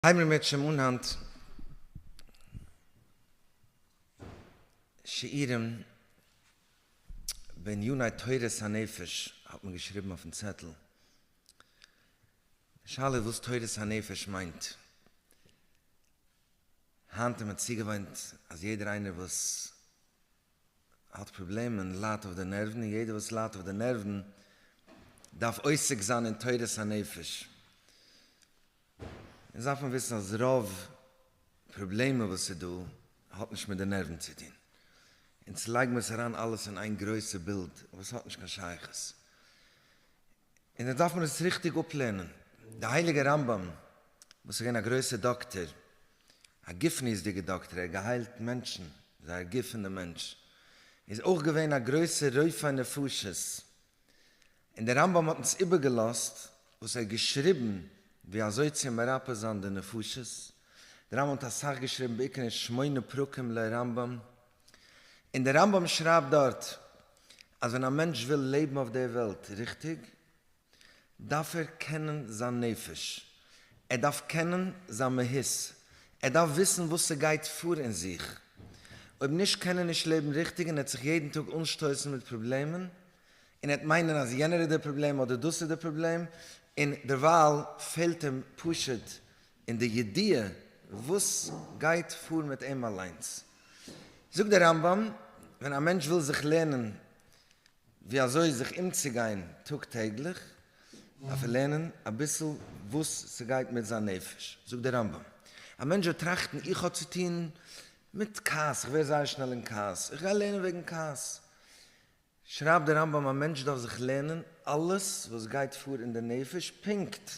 הייבן מיר בעצם אן היינט שיעורים בעניני תורת הנפש, האט מען געשריבן אויפן צעטל. די שאלה איז וואס תורת הנפש מיינט. היינט איז מען צוגעוואוינט אז יעדער איינער וואס האט פראבלעמען ליידט אויף די נערוון, און יעדער וואס ליידט אויף די נערוון דארף עוסק זיין אין תורת הנפש. אונז דארף מען וויסן אז רוב פראבלעמען וואס איז דא האט נישט מיט די נערוון צו טון. אונז לייג מיר עס אריין אלעס אין איין גרויסע בילד וואס האט נישט קיין שייכות. און אונז דארף מען עס ריכטיג אפלערנען. די הייליגע רמב ם וואס איז געווען א גרויסע דאקטער, א גופניות'דיגע דאקטער, ער האט געהיילט מענטשן, זייער גוף פון די מענטש, איז אויך געווען א גרויסע רופא נפשות, און דער רמב ם האט אונז איבערגעלאזט וואס ער האט געשריבן ווי אזוי צו מרפא זיין די נפשות, דער רמב ם האט אסאך געשריבן בעיקר אין שמונה פרקים לרמב ם, און דער רמב ם שרייבט דארט אז ווען א מענטש וויל לעבן אויף דער וועלט ריכטיג דארף ער קענען זיין נפש, ער דארף קענען זיין מהות, ער דארף וויסן וואס ס'גייט פאר אין זיך, אויב נישט קען ער נישט לעבן ריכטיג און ער וועט זיך יעדן טאג אנשטויסן מיט פראבלעמען און ער וועט מיינען אז יענער איז דער פראבלעם אדער דאס איז דער פראבלעם, און דערווייל פעלט אים פשוט אין די ידיעה וואס גייט פאר מיט אים אליינס. זאגט דער רמב ם, ווען א מענטש וויל זיך לערנען ווי אזוי זיך אומצוגיין טאג טעגליך, דארף ער לערנען אביסל וואס ס'גייט מיט זיין נפש. זאגט דער רמב ם, א מענטש וועט טראכטן, איך האב צוטון מיט כעס, איך ווער זייער שנעל אין כעס, איך גיי לערנען וועגן כעס. שרייבט דער רמב ם א מענטש דארף זיך לערנען אלעס וואס גייט פאר אין די נפש, פונקט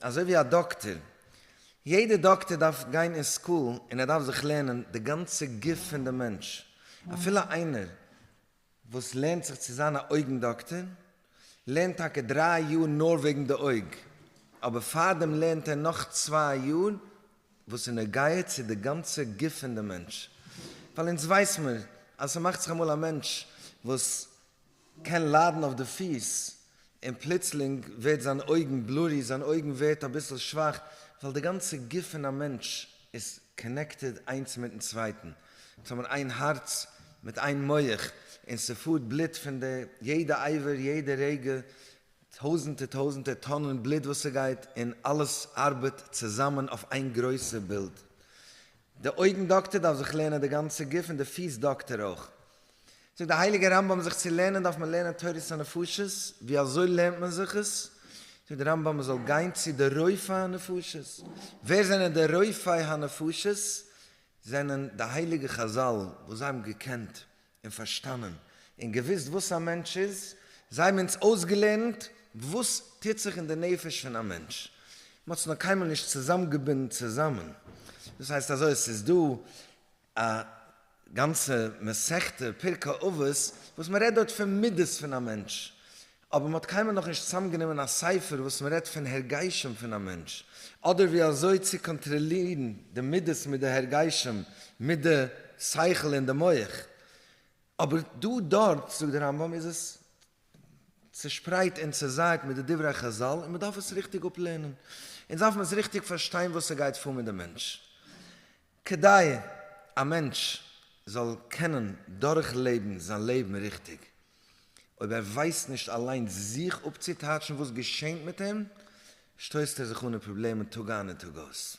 אזוי ווי א דאקטער, יעדער דאקטער דארף גיין אין סקול און ער דארף זיך לערנען די גאנצע גוף פון די מענטש, אפילו איינער וואס לערנט זיך צו זיין א אויגן דאקטער, לערנט טאקע דריי יאר נאר וועגן די אויג, אבער פארדעם לערנט ער נאך צוויי יאר וואס איז נוגע צו די גאנצע גוף פון די מענטש, ווייל אונז ווייס מיר אז ס'מאכט זיך אמאל א מענטש וואס קען ליידן אויף די פיס און פלוצלינג ווערט זיין אויגן בלורי, זיין אויגן ווערט אביסל שוואך, ווייל די גאנצע גוף פון א מענטש איז קאנעקטעד איינס מיטן צווייטן, עס האבן איין הארץ מיט איין מח, און ס'פארט בלוט פון די יעדע אייווער יעדע רגע, טויזענטער טויזענטער טאנען בלוט וואס ס'גייט, און אלעס ארבעט צוזאמען אויף איין גרויסע בילד. די אויגן דאקטער דארף זיך לערנען די גאנצע גוף און די פיס דאקטער אויך, זאגט דער הייליגער רמב ם זיך צו לערנען דארף מען לערנען תורת הנפשות, ווי אזוי לערנט מען זיך עס? זאגט דער רמב ם מען זאל גיין צו די רופאי הנפשות, ווער זענען די רופאי הנפשות? זענען די הייליגע חזל וואס זיי האבן געקענט און פארשטאנען און געוויסט וואס א מענטש איז, זיי האבן אונז אויסגעלערנט וואס טוט זיך אין די נפש פון א מענטש, מען האט עס נאר קיינמאל נישט צוזאמגעבינדן צוזאמען, דאס הייסט אזוי עס איז דא. א גאנצע מסכתא פרקי אבות וואס מען רעדט דארט פון מידות פון א מענטש, אבער מען האט קיינמאל נאכנישט צוזאמגענומען א ספר וואס מען רעדט פון הרגשים פון א מענטש, אדער ווי אזוי צו קאנטראלירן די מידות מיט די הרגשים מיט די שכל און די מח, אבער דא דארט זאגט דער רמב ם איז עס צושפרייט און צוזייעט מיט די דברי חזל און מען דארף עס ריכטיג אפלערנען, אונז דארף מען עס ריכטיג פארשטיין וואס ס'גייט פאר מיט די מענטש. כדי א מענטש זאל קענען דורכלעבן זיין לעבן ריכטיג, אויב ער ווייסט נישט אליינס זיך אפצוטייטשן וואס געשענט מיט אים, שטויסט ער זיך אן אין פראבלעמען טאג איין און טאג אויס.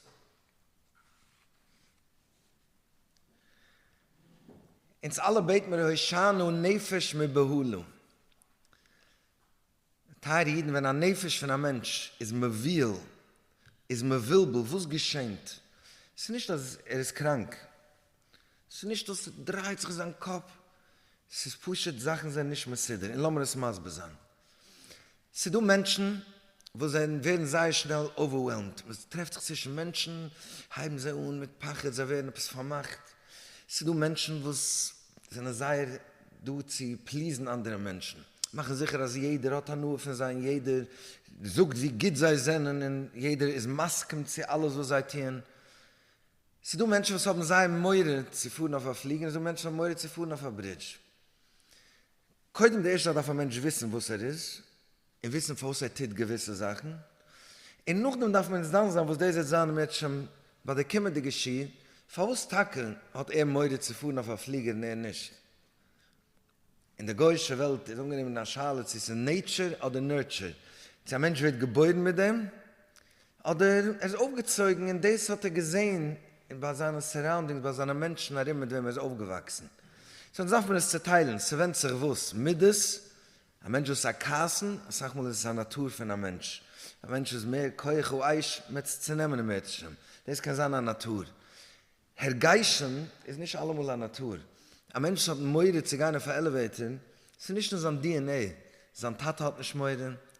אונז אלע בעט מיר הושענא נפש מבהלה. טייערע אידן ווען א נפש פון א מענטש איז מבוהל, איז מבולבל, וואס געשענט? ס'איז נישט אז ער איז קראנק, ס'איז נישט אז ס'דרייט זיך אין זיין קאפ, ס'איז פשוט זאכן זענען נישט מסודר, און לאמיר עס מסביר זיין. ס'איז דא מענטשן וואס זענען ווערן זייער שנעל אווערוועלמד, מען טרעפט זיך צווישן מענטשן הייבן זיי אן מיט פחד, זיי ווערן עפעס פארמאכט, ס'איז דא מענטשן וואס זענען זייער דא צו פליזן אנדערע מענטשן, מאכן זיכער אז יעדער האט הנאה פון זיי און יעדער זאגט ווי גוט זיי זענען און יעדער איז מסכים צו אלעס וואס זיי טוען, ס'איז דא מענטשן וואס האבן זייער מורא צו פארן אויף א פליגער און ס'איז דא מענטשן האבן מורא צו פארן אויף א ברידזש, קודם די ערשטע דארף א מענטש וויסן וואס ער איז און וויסן פארוואס ער טוט געוויסע זאכן און נאכדעם דארף מען דן זיין וואס דאס וועט זיין מעטשעם ביי די קומענדיגע שיעור פארוואס טאקע האט ער מורא צו פארן אויף א פליגער און ער נישט. אין די גוי'שע וועלט איז אנגענומען א שאלה צו ס'איז נעיטשור אדער נורטשור, צו א מענטש ווערט געבוירן מיט דעם אדער ער איז אויפגעצויגן און דאס האט ער געזען ביי זיינע סאראונדינגס, ביי זיינע מענטשן ארום מיט וועם ער איז אויפגעוואקסן. סאו דארף מען עס צוטיילן, ס'ווענדט זיך וואס, מידות, א מענטש וואס איז א קאסן, אסאך מאל איז עס א נאטור פון א מענטש, א מענטש איז מער כח האיש, מער צו צונעמען און מער צו שטעלן, דאס קען זיין א נאטור. הרגשים איז נישט אלעמאל א נאטור. א מענטש האט מורא צו גיין אויף א עלעוועיטער, ס'איז נישט אין זיין DNA. זיין טאטע האט נישט מורא,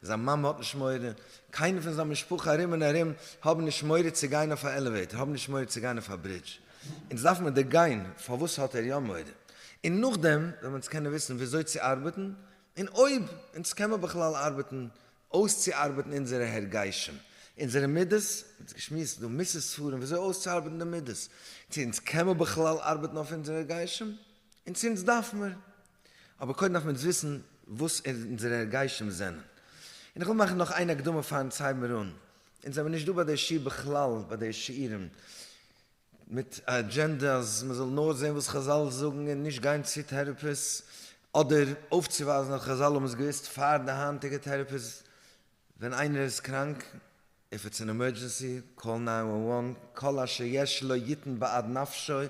זיין מאמע האט נישט מורא, קיינער פון זיין משפחה ארום און ארום האבן נישט מורא צו גיין אויף א עלעוועיטער, האבן נישט מורא צו גיין אויף א ברידזש. אונז דארף מיר דערגיין פארוואס האט ער יא מורא, און נאכדעם וועלן אונז קענען וויסן וויאזוי צו ארבעטן, און אויב אונז קען מיר בכלל ארבעטן אויסצוארבעטן אונזערע הרגשים, אונזערע מידות, מיר האבן יעצט געשמועסט דא מוסר ספרים ווי אזוי אויסצוארבעטן די מידות, צו אונז קען מען בכלל ארבעטן אויף אונזערע הרגשים, און צו אונז דארף מיר, אבער קודם דארף מען אונז וויסן וואס אונזערע הרגשים זענען, און איך וויל מאכן נאך איין הקדמה פארן ציון מירון, אונז זעמיר נישט דא ביי די שיעור בכלל ביי די שיעורים, מיט א אג'ענדע אז מען זאל נאר זען וואס חזל זאגן און נישט גיין צו טערעפיס, אדער אויפצואווייזן אז חזל האבן עס געוואוסט פאר די היינטיגע טערעפיס, ווען איינער איז קראנק, איף איטס אן עמערדזשענסי, קאל נײַן וואן וואן, כל אשר יש לו יתן בעד נפשו,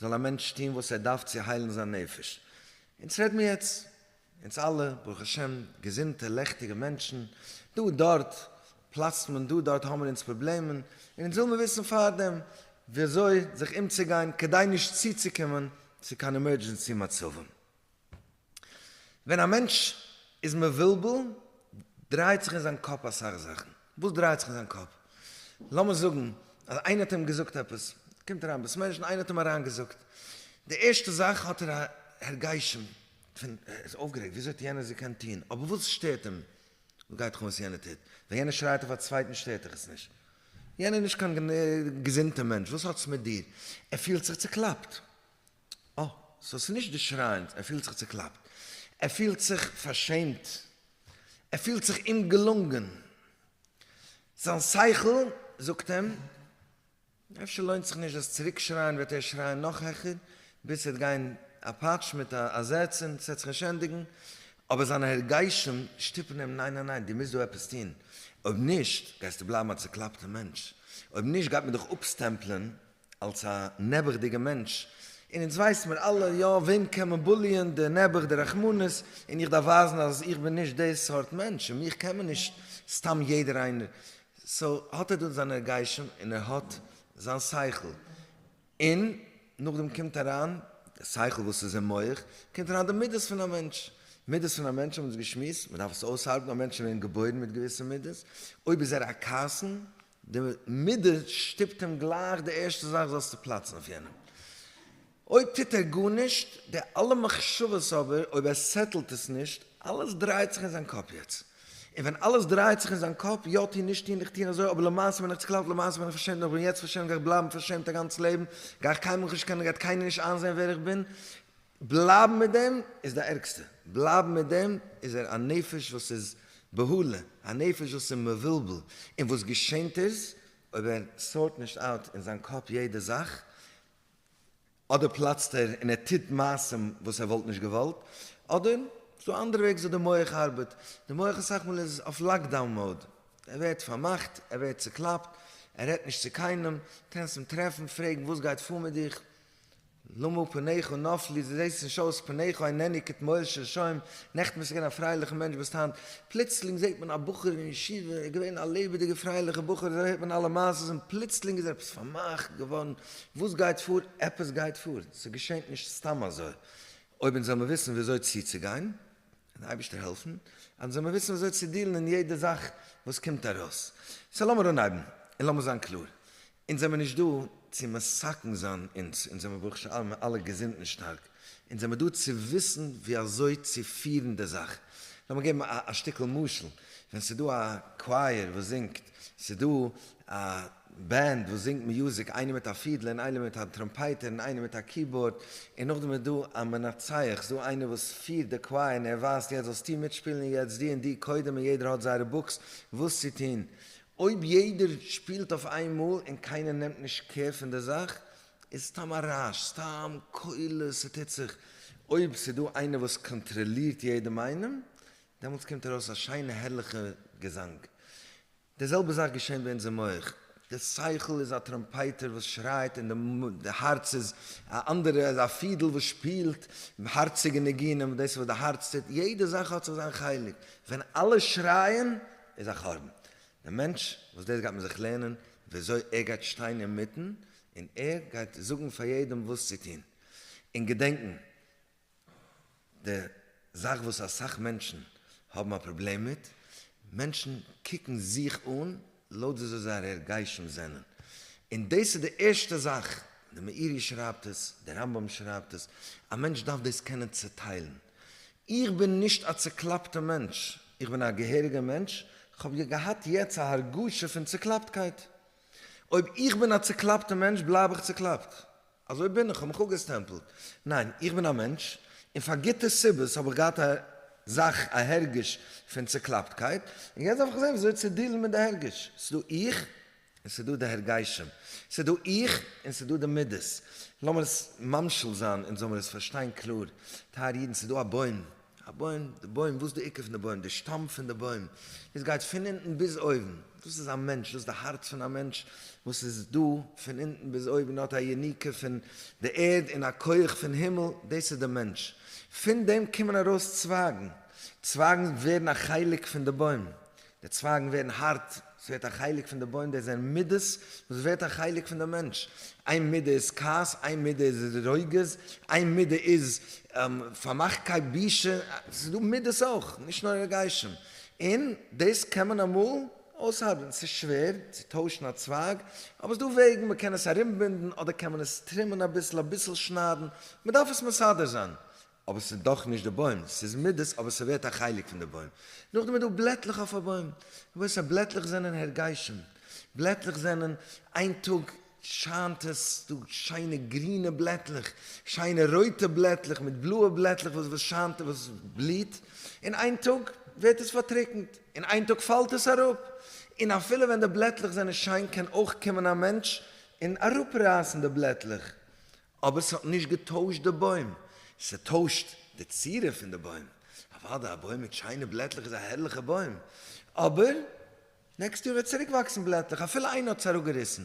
זאל א מענטש טון וואס ער דארף צו היילן זיין נפש. אונז רעד מיר יעצט אונז אלע ברוך השם געזונטע לעכטיגע מענטשן, דא און דארט פלאצט מען, דא און דארט האבן מיר אונז פראבלעמען, און אונז וויל מיר וויסן פארדעם ווי אזוי זיך אומצוגיין כדי נישט צוצוקומען צו קיין עמערדזשענסי מצבים. ווען א מענטש איז מבולבל דרייט זיך אין זיין קאפ אסאך זאכן, וואס דרייט זיך אין זיין קאפ? לאמיר זאגן אז איינער האט אים געזאגט עפעס, קומט אריין בית מדרש און איינער האט אים אריינגעזאגט, די ערשטע זאך האט ער א הרגשים, פון ער איז אויפגערעגט וויאזוי האט יענער עס געקענט טון, אבער וואס שטערט אים, וואס גייט דיך אן וואס יענער טוט, ווען יענער שרייט אויף א צווייטן שטערט דיך עס נישט, יענער איז נישט קיין געזונטע מענטש, וואס האט עס מיט דיר, ער פילט זיך צוקלאפט, אה, סאו עס איז נישט די שרייענס, ער פילט זיך צוקלאפט, ער פילט זיך פארשעמט, ער פילט זיך אומגעלונגען, זיין שכל זאגט אים. אפשר לוינט זיך נישט דאס צוריקשרייען וועט ער שרייען נאך העכער ביז ס'וועט גיין א פאטש מיט א זעץ און ס'וועט זיך נישט ענדיגן אבער זיינע הרגשים שטופן אים ניין ניין ניין דו מוזט דא עפעס טון אויב נישט גייסטו בלייבן א צוקלאפטע מענטש אויב נישט גייט מען דיך אפסטעמפלען אלס א נעבעכדיגע מענטש און אונז ווייסן מיר אלע יא וועם קען מען בוליען די נעבעך די רחמנות און איך דארף ווייזן אז איך בין נישט די סארט מענטש און מיך קען מען נישט סתם יעדער איינער סאו האט ער דארט זיין ערגיישען און ער האט זיין שכל, און נאכדעם קומט אריין די שכל וואס איז אין מח, קומט אריין די מידות פון א מענטש, מידות פון א מענטש האבן אונז געשמועסט, מען דארף עס אויסארבעטן, א מענטש איז געווען געבוירן מיט געוויסע מידות, אויב איז ער א קאסאן, די מידה שטופט אים גלייך די ערשטע זאך זאלסטו פלאצן אויף יענעם, אויב טוט ער גארנישט, די אלע מחשבות אבער, אויב ער סעטלט עס נישט, אלעס דרייעט זיך אין זיין קאפ יעצט. און ווען אלעס דרייעט זיך אין זיין קאפ, יא טון, נישט טון, איך טון אזוי, אבער למעשה בין איך צוקלאפט, למעשה בין איך פארשעמט, און איך בין יעצט פארשעמט, גיי איך בלייבן פארשעמט א גאנץ לעבן, גיי איך קיינמאל נישט קענען, גייט קיינער נישט איינזען ווער איך בין, בלייבן מיט דעם איז די ערגסטע, בלייבן מיט דעם איז ער א נפש וואס איז בהלה, א נפש וואס איז מבולבל, און וואס געשענט איז, אויב ער סארט נישט אוט אין זיין קאפ יעדע זאך, אדער פלאצט ער און ער טוט מעשים וואס ער וואלט נישט געוואלט, אדער ס'איז דא אנדערע וועגס וואס די מח ארבעט, די מח אסאך מאל איז אויף לאקדאון מאוד, ער ווערט פארמאכט, ער ווערט צוקלאפט, ער רעדט נישט צו קיינעם, קענסט אים טרעפן, פרעגן וואס גייט פאר מיט דיך, למה פניך נפלו, דו זעסט נישט אויס, פניך ענני כתמוהל של שוים, נעכטן ביסטו געווען א פרייליכע מענטש ביסט היינט, פלוצלינג זעט מען א בחור אין ישיבה, ער איז געווען א לעבעדיגע פרייליכע בחור, אזוי הערט מען אלע מעשות און פלוצלינג איז ער עפעס פארמאכט געווארן, וואס גייט פאר? עפעס גייט פאר, ס'געשענט נישט סתם אזוי, אויב אונז וועלמער וויסן וויאזוי צוצוגיין, און די אייבערשטער העלפן, אונז וועלמער וויסן וויאזוי צו דילן אין יעדע זאך וואס קומט ארויס. סא לאמיר אנהייבן, און לאמיר זיין קלאר, אונז זעמער נישט דא צו מסכן זיין אונז, אונז זעמער ברוך שאלמער אלע געזונט און שטארק, אונז זעמער דא צו וויסן ווי אזוי צו פירן די זאך. לאמיר געבן א שטיקל משל, ווען ס'דא א קווייער וואס זינגט, ס'דא א. בענד וואס זינגט מיוזיק, איינער מיט א פידל און איינער מיט א טראמפייטער און איינער מיט א קיבאורד, און נאכדעם איז דא א מנצח, ס'דא איינער וואס פירט די קווייער און ער ווייזט יעצט זאלסטו מיטשפילן און יעצט דו און דו קודם און יעדער האט זייערע בוקס וואס צו טון. אויב יעדער שפילט אויף איין מאל און קיינער נעמט נישט קער פון די זאך איז סתם א רעש, סתם קולות, ס'טוט זיך. אויב ס'דא איינער וואס קאנטראלירט יעדעם איינעם דעמאלטס קומט ארויס א שיינע הערליכע געזאנג. די זעלבע זאך געשען ביי אונזער מח. די שכל איז א טראמפייטער וואס שרייט און די הארץ איז א אנדערע איז א פידל וואס שפילט הארציגע ניגונים דאס איז וואס די הארץ טוט יעדע זאך האט זיך זיין חלק ווען אלע שרייען איז א חרבן די מענטש וואס דאס גייט מען זיך לערנען וויאזוי ער גייט שטיין אינמיטן און ער גייט זאגן פאר יעדעם וואס צו טון און געדענקן די זאך וואס אסאך מענטשן האבן א פראבלעם מיט, מענטשן קוקן זיך אן לויט ווי אזוי זייער הרגשים זענען, און דאס איז די ערשטע זאך, די מאירי שרייבט עס, די רמב ם שרייבט עס, א מענטש דארף דאס קענען צעטיילן, איך בין נישט א צעקלאפטע מענטש, איך בין א געהעריגע מענטש, כ'האב געהאט יעצט א הרגשה פון צעקלאפטקייט, אויב איך בין א צעקלאפטע מענטש בלייב איך צעקלאפט, אזוי בין איך, כ'האב מיך אפגעסטעמפלט. ניין, איך בין א מענטש, און פאר גוטע סיבות האב איך געהאט א זאך, א הרגש פון צוקלאפטקייט, און יעצט דארף איך זען וויאזוי צו דילן מיט די הרגש. ס'איז דא איך, און ס'איז דא די הרגשים. ס'איז דא איך, און ס'איז דא די מידות. לאמיר עס ממשיל זיין, אונז זאלמיר עס פארשטיין קלאר. טייערע אידן, ס'איז דא א בוים. א בוים, די בוים, וואס די עיקר פון די בוים, די שטאם פון די בוים, דאס גייט פון אונטן ביז אויבן, דאס איז א מענטש, דאס איז די הארץ פון א מענטש, וואס איז דא פון אונטן ביז אויבן, האט א יניקה פון די ערד און א כח פון הימל, דאס איז די מענטש, פון דעם קומען ארויס צווייגן, צווייגן ווערן א חלק פון די בוים, די צווייגן ווערן הארט, עס ווערט א חלק פון די בוים, דאס זענען מידות וואס ווערט א חלק פון די מענטש, איין מידה איז כעס, איין מידה איז רוגז, איין מידה איז פארמאכטקייט, בושה, עס איז דא מידות אויך, נישט נאר רגשים, און דאס קען מען אמאל אויסהארבען, עס איז שווער צו טוישן א צווייג, אבער עס איז דא וועגן, מען קען עס ארומבינדן, אדער קען מען עס טרימען אביסל, אביסל שניידן, מען דארף עס מסדר זיין, אבער ס'איז דאך נישט די בוים, ס'איז מידות אבער ס'ווערט א חלק פון די בוים. נאכדעם איז דא בלעטלעך אויף א בוים, רבותי בלעטלעך זענען הרגשים, בלעטלעך זענען איין טאג שיינט עס דא שיינע גרינע בלעטלעך, שיינע רויטע בלעטלעך מיט בלויע בלעטלעך וואס וואס שיינט וואס בליהט, און איין טאג ווערט עס פארטריקנט, און איין טאג פאלט עס אראפ, און אפילו ווען די בלעטלעך זענען שיין קען אויך קומען א מענטש און אראפרייסן די בלעטלעך, אבער ס'האט נישט געטוישט די בוים, ס'טוישט די צורה פון די בוים, אוודאי א בוים מיט שיינע בלעטלעך איז א הערליכע בוים, אבער נעקסט יאר וועט צוריק וואקסן בלעטלעך אפילו איינער האט עס אראפגעריסן,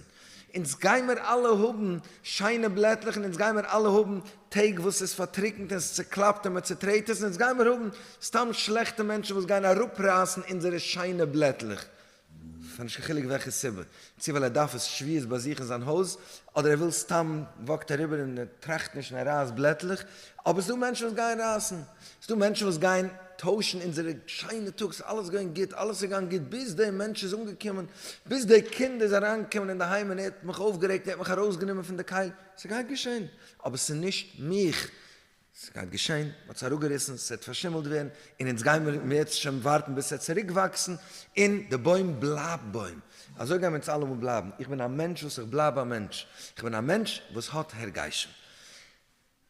אונז גיימער אלע האבן שיינע בלעטלעך און אונז גיימער אלע האבן טעג וואס איז פארטריקנט און ס'איז צוקלאפט און מען צוטרעט עס, און אונז גיימער האבן סתם שלעכטע מענטשן וואס גייען אראפרייסן אונזערע שיינע בלעטלעך, פאר נישט קיין חילוק וועלכע סיבה, צו ווייל ער דארף עס שביעות באזוך אין זיין הויז, אדער ער וויל סתם, וואקט אריבער און ער טראכט נישט און ער רייסט בלעטלעך, אבער ס'דא מענטשן וואס גייען רייסן, ס'דא מענטשן וואס גייען טוישן אונזערע שיינע טאג, ס'איז אלעס געווען גוט, אלעס איז געגאנגען גוט, ביז דער מענטש איז אנגעקומען, ביז דער קינד איז אריינגעקומען אינדערהיים און ער האט מיך אויפגערעגט, ער האט מיך ארויסגענומען פון די קייט, ס'גייט געשען, אבער ס'איז נישט מיך. ס'איז גייט געשען, מ'האט עס אראפגעריסן, ס'וועט פארשימלט ווערן, און אונז גייען מיר יעצט שוין ווארטן ביז ס'וועט צוריקוואקסן, און די בוים בלייבט בוים. אזוי גייען מיר אונז אלעמאל בלייבן. איך בין א מענטש וואס איך בלייב א מענטש. איך בין א מענטש וואס האט הרגשים.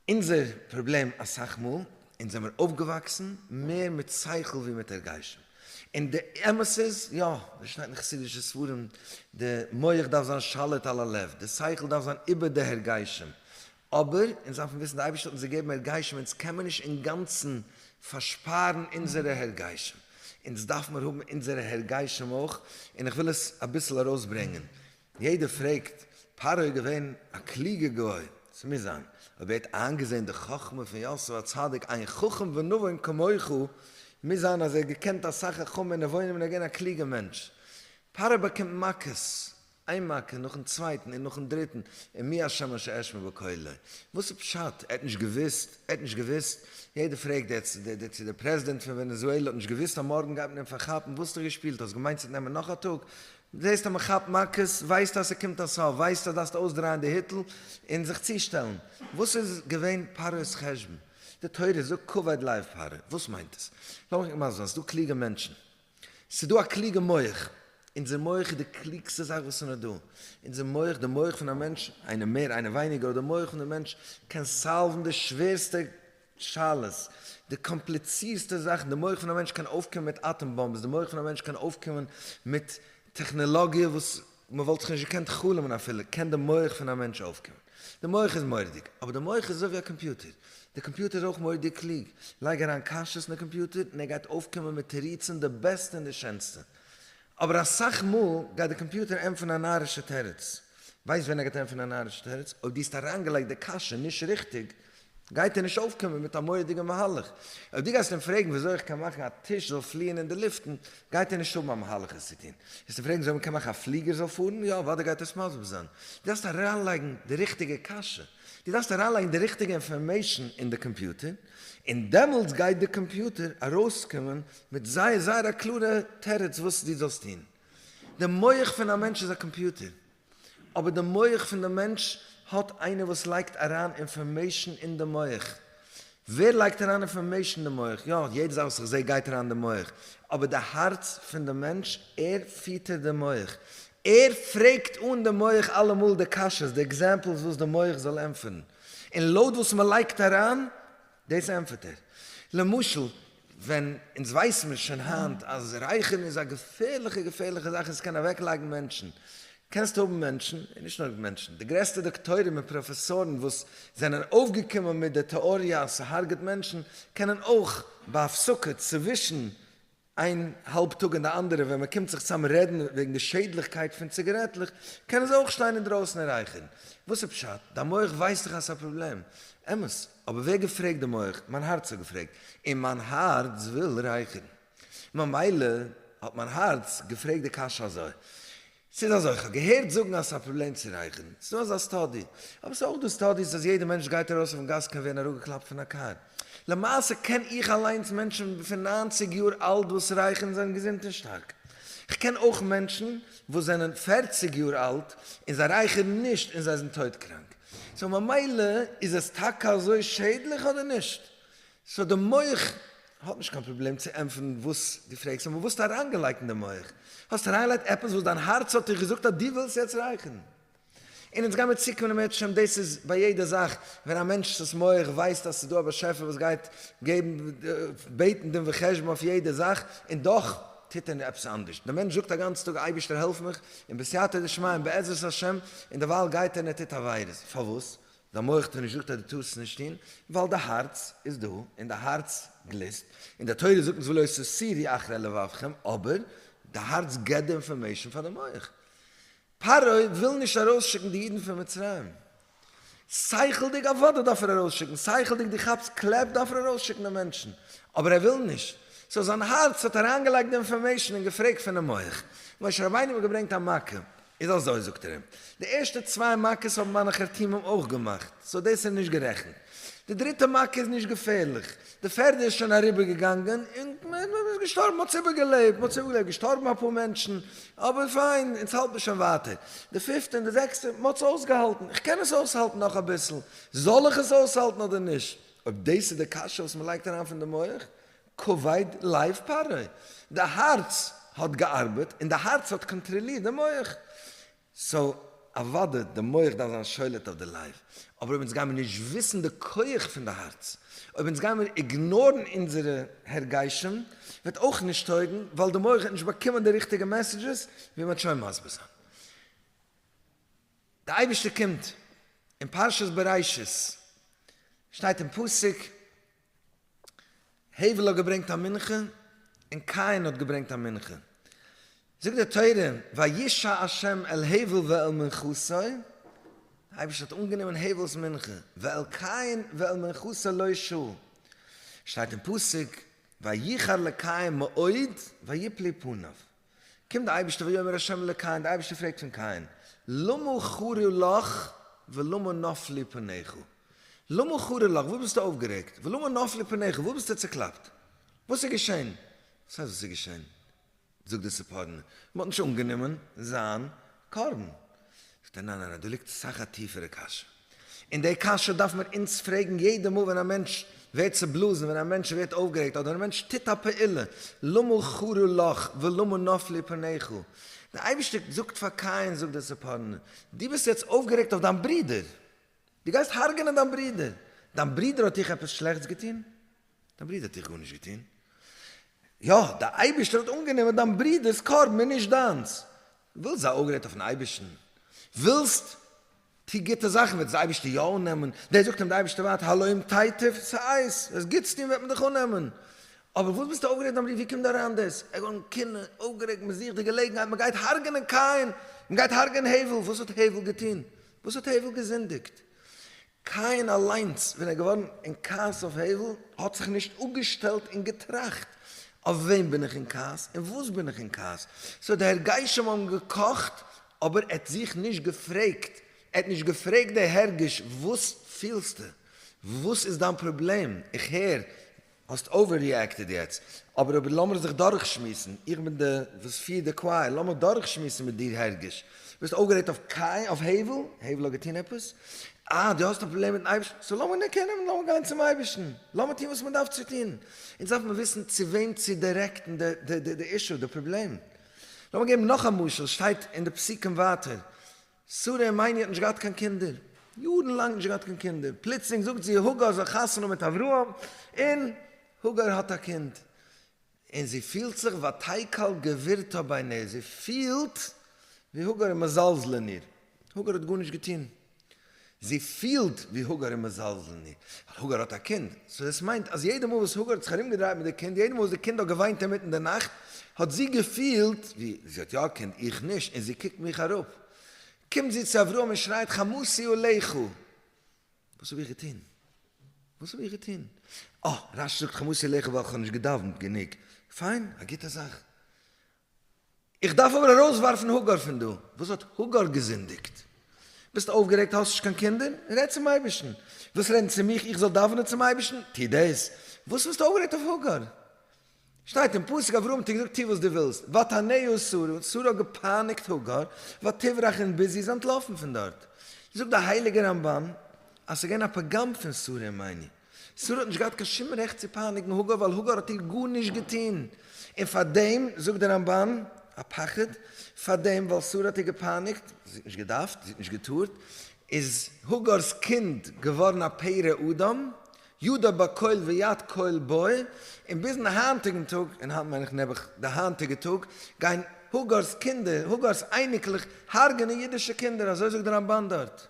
אונזער פראבלעם אסאך מאל, אונז זעמיר אויפגעוואקסן מער מיט שכל ווי מיט הרגשים. און די אמת איז, יא, ווי שטייט אין חסידישע ספרים, די מח דארף זיין שליט על הלב, די שכל דארף זיין איבער די הרגשים. אבער אונז דארפן וויסן, דער אייבערשטער האט אונז געגעבן הרגשים, אונז קען מען נישט אינגאנצן פארשפארן אונזערע הרגשים, אונז דארף מיר האבן אונזערע הרגשים אויך, און איך וויל עס אביסל ארויסברענגען, יעדער פרעגט, פרעה איז געווען א קלוגער גוי, עס מוז זיין, אויב ער האט איינגעזען די חכמה פון יוסף הצדיק, איין חכם ונבון כמוך, מוז זיין אז ער האט געקענט אסאך חכמה און נבונים און ער איז געווען א קלוגער מענטש, פרעה באקומט מכות, איין מכה נאכן צווייטן און נאכן דריטן, און מי השם אשר אשמע בקולו? וואס איז פשט? ער האט נישט געוואוסט? ער האט נישט געוואוסט? יעדער פרעגט דער צו דער, דער צו דער, פרעזידענט פון ווענעזועלע האט נישט געוואוסט אז מארגן גייט מען אים פארכאפן? וואס האסטו געשפילט? האסט געמיינט ס'וועט נעמען נאך א טאג? זעסט אז מען כאפט מכות, ווייסטו אז ס'קומט א סוף, ווייסטו אז דארפסטו אויסדרייען די היטל און זיך צושטעלן. וואס איז געווען פרעה'ס חשבון? די תורה זאגט כבוד לב פרעה, וואס מיינט עס? לאמיך מסביר זיין, ס'דא קלוגע מענטשן, ס'איז דא א קלוגע מח, אונזער מח איז די קלוגסטע זאך וואס איז נאר דא, אונזער מח, די מח פון א מענטש, איינער מער איינער ווייניגער, אבער די מח פון די מענטש קען סאלוון די שווערסטע שאלות, די קאמפליצירסטע זאכן, די מח פון א מענטש קען אויפקומען מיט אטאם באמבעס, די מח פון א מענטש קען אויפקומען מיט טעכנעלאגיע וואס מען וואלט זיך נישט געקענט חלומ'ן אפילו קען די מח פון א מענטש אויפקומען. די מח איז מורא'דיג, אבער די מח איז אזוי ווי א קאמפיוטער. די קאמפיוטער איז אויך מורא'דיג קלוג. לייג אריין קשיות אין די קאמפיוטער און ער גייט אויפקומען מיט תירוצים די בעסטע און די שענסטע. אבער אסאך מאל גייט די קאמפיוטער ענטפערן א נארישע תירוץ. ווייסט ווען ער גייט ענטפערן א נארישע תירוץ? אויב דו האסט אריינגעלייגט די קשיא נישט ריכטיג. גייט ער נישט אויפקומען מיט א מורא'דיגע מהלך. אויב דו גייסט אים פרעגן וויאזוי איך קען מאכן א טיש זאל פליען אין די לופטן, גייט ער נישט האבן א מהלך עס צו טון. וועסט אים פרעגן וויאזוי מ'קען מאכן א פליגער זאל פארן, יא, אוודאי גייט ער עס מסביר זיין. דו דארפסט אריינלייגן די ריכטיגע קשיא. דו דארפסט אריינלייגן די ריכטיגע אינפארמעישן אין די קאמפיוטער, און דעמאלטס גייט די קאמפיוטער ארויסקומען מיט זייער זייער א קלארע תירוץ וואס דו זאלסט טון. די מח פון א מענטש איז א קאמפיוטער. אבער די מח פון די מענטש האט איינער וואס לייגט אריין אינפארמעישן אין די מח. ווער לייגט אריין אינפארמעישן אין די מח? יא, יעדע זאך וואס איך זעה גייט אריין אין די מח, אבער די הארץ פון די מענטש, ער פיטערט די מח, ער פרעגט אן די מח אלעמאל די קשיות, די עקזעמפלס וואס די מח זאל ענטפערן, און לויט וואס מען לייגט אריין דאס ענטפערט ער, למשל ווען אונז ווייסן מיר שוין היינט אז רייכערן איז א געפערליכע געפערליכע זאך און ס'קען אוועקלייגן מענטשן, קענסט האבן מענטשן, און נישט נאר מענטשן, די גרעסטע דאקטוירים און פראפעסארן וואס זענען אויפגעקומען מיט די טעאריע אז ס'הארגעט מענטשן, קענען אויך בהפסקה צווישן איין האלב טאג און די אנדערע ווען מען קומט זיך צאם רעדן וועגן די שעדליכקייט פון ציגערעטלעך קענען זיי אויך שטיין אינדרויסן און רייכערן. וואס איז פשט? דיין מח ווייסט דאך אז ס'איז א פראבלעם. אמת. אבער ווער געפרעגט די מח? מיין הארץ האט געפרעגט. און מיין הארץ וויל רייכערן. ממילא האט מיין הארץ געפרעגט די קשיא אזוי. ס'איז אזוי, כ'האב געהערט זאגן אז ס'איז א פראבלעם צו רייכערן, ס'איז דא אזא סטאדי, אבער ס'איז אויך דא סטאדיס אז יעדע מענטש גייט ארויס אויפן גאס קען ווערן אראפגעקלאפט פון א קאר. למעשה קען איך אליינס מענטשן פון נײַנציק יאר אלט וואס רייכערן און זענען געזונט און שטארק. כ'קען אויך מענטשן וואס זענען פֿערציק יאר אלט און זיי רייכערן נישט און זיי זענען טויט קראנק. סאו ממילא איז עס טאקע אזוי שעדליך אדער נישט? סאו די מח האט נישט קיין פראבלעם צו ענטפערן וואס דו פרעגסט און וואס האסט אריינגעלייגט אין די מח. האסט אריינגעלייגט עפעס וואס דיין הארץ האט דיך געזאגט אז דו ווילסט יעצט רייכערן. און אונז גיימיר צוקומען אם ירצה השם דאס איז ביי יעדע זאך ווען א מענטש'ס מח ווייסט אז ס'איז דא א באשעפער וואס גייט געבן בעטן דין וחשבון אויף יעדע זאך און דאך טוט ער עפעס אנדערש. דער מענטש זאגט א גאנצע טאג אייבערשטער העלף מיך און בסייעתא דשמיא און בעזרת השם און דערווייל גייט ער און ער טוט עבירות. פארוואס? דיין מח טוט נישט זאגט אז דו טארסט נישט טון, ווייל די הארץ איז דא און די הארץ גליסט, און די תורה זאגט אונז ולא תסירי אחרי לבבכם, אבער די הארץ געבט די אינפארמעישן פאר די מח. פרעה וויל נישט ארויסשיקן די אידן פון מצרים. שכל'דיג אוודאי דארף ער ארויסשיקן, שכל'דיג דו כאפסט קלעפ דארף ער ארויסשיקן די מענטשן, אבער ער וויל נישט, סאו זיין הארץ האט אריינגעלייגט די אינפארמעישן און געפרעגט פונעם מח. משה רבינו האט געברענגט א מכה. איז אזוי זאגט ער אים, די ערשטע צוויי מכות האבן מיינע חרטומים אויך געמאכט, סאו דאס איז נישט גערעכנט, די דריטע מכה איז נישט געפערליך, די פערדע איז שוין אריבער געגאנגען און מען איז געשטארבן, מען האט עס איבער געלעבט, מען האט עס איבער געלעבט, געשטארבן אפאר מענטשן, אבער פיין, אונז האלטן שוין ווייטער, די פיפטע און די זעקסטע, מען האט עס אויסגעהאלטן, איך קען עס אויסהאלטן נאך אביסל, זאל איך עס אויסהאלטן אדער נישט? אויב דאס איז די קשיא וואס מען לייגט אריין פון די מח, קווייט לייף פרעה, די הארץ האט געארבעט און די הארץ האט קאנטראלירט די מח, סאו אוודאי די מח דארף זיין שולט אויף די לייף, אבער אויב אונז גיימיר נישט וויסן די כח פון די הארץ, אויב אונז גיימיר איגנארן אונזערע הרגשים, וועט אויך נישט טויגן, ווייל די מח וועט נישט באקומען די ריכטיגע מעסעדזשעס, ווי מ'האט שוין מסביר זיין. די אייבערשטער קומט, אין פרשת בראשית שטייט אין פסוק, הבל האט געברענגט א מנחה און קין האט געברענגט א מנחה, זאגט די תורה וישא ה' אל הבל ואל מנחתו, דער אייבערשטער האט אנגענומען הבל'ס מנחה, ואל קין ואל מנחתו לא ישא, שטייט אין פסוק ויחר לקין מאוד ויפלי פניו, קומט דער אייבערשטער ויאמר ה' אל קין, דער אייבערשטער פרעגט פון קין, למה חרה לך ולמה נפלו פניך? למה חרה לך, וואס ביסטו אויפגערעגט? ולמה נפלו פניך, וואס ביסטו צעקלאפט? וואס איז געשען? וואס הייסט וואס איז געשען? זאגט דער ספרדן, מען האט נישט אנגענומען זיין קרבן. זאגט ער, ניין ניין ניין, דא ליגט אסאך א טיפערע קשיא. און די קשיא דארף מען אונז פרעגן יעדע מאל ווען א מענטש ווערט צובלאזן, ווען א מענטש ווערט אויפגערעגט, אדער ווען א מענטש טוט א פעולה, למה חרה לך ולמה נפלו פניך? דער אייבערשטער זאגט פאר קין, זאגט דער ספרנו, דו ביסט יעצט אויפגערעגט אויף דיין ברודער, דו גייסט הרג'נען דיין ברודער, דיין ברודער האט דיך עפעס שלעכטס געטון? דיין ברודער האט דיך גארנישט געטון. יא, דער אייבערשטער האט אנגענומען דיין ברודער'ס קרבן און נישט דיינס. ווילסט זיי אפגרעדט אויפ'ן אייבערשטן? ווילסט? טו גוטע זאכן וועט דאס אייבערשטער יא אננעמען. דעס זאגט אים דער אייבערשטער ווייטער, הלאים תיטיב, ס'הייסט, וועסט גוטס טון וועט מען דיך אננעמען. אבער וואס ביסטו אפגרעדט דיין ברודער? ווי קומט דא אריין דאס? ער גארן קינד, אפגערעגט, מען זוכט די געלעגנהייט, מען גייט הרג'ענען קין, מען גייט הרג'ענען הבל, וואס האט הבל געטון? וואס האט הבל געזינדיגט? קאין אליינס ווען ער איז געווארן אין כעס אויף הבל האט זיך נישט אפגעשטעלט און געטראכט, אויף וועם בין איך אין כעס און וואס בין איך אין כעס? סאו די הרגשים האבן געקאכט אבער ער האט זיך נישט געפרעגט, ער האט נישט געפרעגט די הרגש וואס פילסטו? וואס איז דיין פראבלעם? איך הער האסט אווער ריעקטעד יעצט, אבער אבער לאמיר זיך דורך שמועסן, איך בין די וואס פירט די קווייער, לאמיך דורך שמועסן מיט דיר הערגש, ביסט אויפגערעגט אויף קין, אויף הבל, הבל האט געטון עפעס? אה דו האסט א פראבלעם מיטן אייבערשטן, סאו לאמיר נעק נעמען, לאמיר גיין צום אייבערשטן, לאמיר טון וואס מען דארף צו טון, אונז דארף מען וויסן צו וועם צו דיירעקטן די אישו, די פראבלעם, לאמיר געבן נאך א משל, שטייט אין די פסוקים ווייטער, שרה מיני האט נישט געהאט קיין קינדער, יארן לאנג נישט געהאט קיין קינדער, פלוצלינג זאגט זי הגר זאל חתונה מיט אברהם, און הגר האט א קינד, און זי פילט זיך ותקל גבירתה בעיניה, זי פילט ווי הגר איז מזלזל אין איר, הגר האט גארנישט געטון, זי פילט ווי הגר איז מזלזל אין איר, ווייל הגר האט א קינד, סאו דאס מיינט אז יעדע מאל וואס הגר האט זיך ארומגעדרייט מיט די קינד, יעדע מאל וואס די קינד האט געוויינט אינמיטן די נאכט, האט זי געפילט ווי זי האט יא א קינד, איך נישט, און זי קוקט מיך אראפ. קומט זי צו אברהם און שרייט חמסי עליך! וואס האב איך געטון? וואס האב איך געטון? אה, רשי זאגט חמסי עליך ווייל כ'האב נישט געדאווענט גענוג. פיין, א גוטע זאך. איך דארף אבער ארויסווארפן האגאר פון דא. וואס האט האגאר געזינדיגט? ביסט אויפגערעגט? האסט נישט קיין קינדער? רעד צום אייבערשטן. ווילסט רעדן צו מיך איך זאל דאווענען צום אייבערשטן? טו דאס. וואס ביסטו אויפגערעגט אויף האגאר? שטייט אין פסוק, אברהם האט איר געזאגט, טו וואס דו ווילסט. ותענהו שרה, שרה האט געפייניגט האגאר, ותברח און ביז זי איז אנטלאפן פון דארט. זאגט דער הייליגער רמב ם אז ס'איז געווען א פגם פון שרה אין מיני. שרה האט נישט געהאט קיין שום רעכט צו פייניגן הגר ווייל הגר האט איר גארנישט געטון, און פארדעם זאגט דער רמבן א פחד, פארדעם ווייל שרה האט איר געפייניגט, זי האט נישט געדארפט, זי האט נישט געטארט, איז הגר'ס קינד געווארן א פרא אדם, ידע בכל ויד כל בו, און ביזן היינטיגן טאג, און היינט מיין איך נעבעך די היינטיגע טאג, גייען הגר'ס קינדער, הגר'ס אייניקלעך, הרג'נען אידישע קינדער, אזוי זאגט דער רמבן דארט,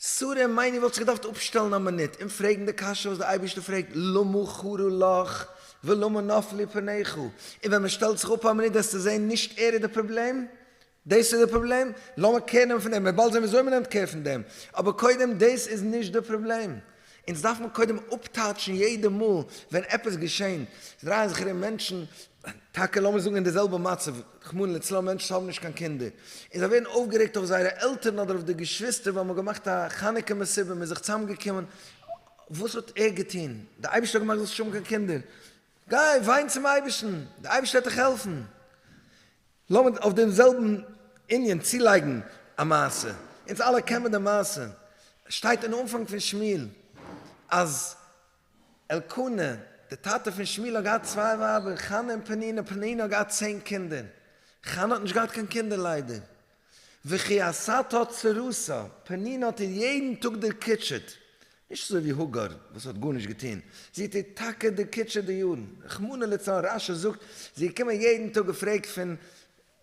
סארי מיינע וואלט זיך געדארפט אפשטעלן א מינוט און פרעגן די קשיא וואס די אייבערשטער פרעגט למה חרה לך ולמה נפלו פניך און ווען מען שטעלט זיך אפ א מינוט וועסטו זעהן נישט ער איז די פראבלעם דאס איז די פראבלעם לאמיר קער נעמען פון דעם מיר באלד זעהן וויאזוי מען נעמט קער פון דעם אבער קודם דאס איז נישט די פראבלעם אונז דארף מען קודם אפטאטשן יעדע מאל ווען עפעס געשען דרייען זיך ארום מענטשן, טאקע לאמיר זאגן אין די זעלבע מצב, רחמנא ליצלן מענטשן האבן נישט קיין קינדער, און זיי ווערן אויפגערעגט אויף זייערע עלטערן אדער אויף די געשוויסטער ווייל מ'האט געמאכט א חנוכה מסיבה, מ'איז זיך צוזאמגעקומען, וואס האט ער געטון? די אייבערשטער האט געמאכט זאלסט נישט האבן קיין קינדער, גיי וויין צום אייבערשטן, די אייבערשטער וועט דיך העלפן. לאמיר אויף דעם זעלבן ענין צולייגן א מעשה, אונז אלע קען מען די מעשה, שטייט אין אנפאנג פון שמואל אז אלקנה דער טאטע פון שמואל האט געהאט צוויי ווייבער חנה און פנינה, פנינה האט געהאט צען קינדער, חנה האט נישט געהאט קיין קינדער ליידער, וכי עשתה צרותו, פנינה האט איר יעדן טאג דערקוטשעט, נישט אזוי ווי האגאר וואס האט גארנישט געטון, זי טוט טאקע די קוטשע די יארן, רחמנא לצלן, רש י זאגט, זי איז געקומען יעדן טאג געפרעגט פון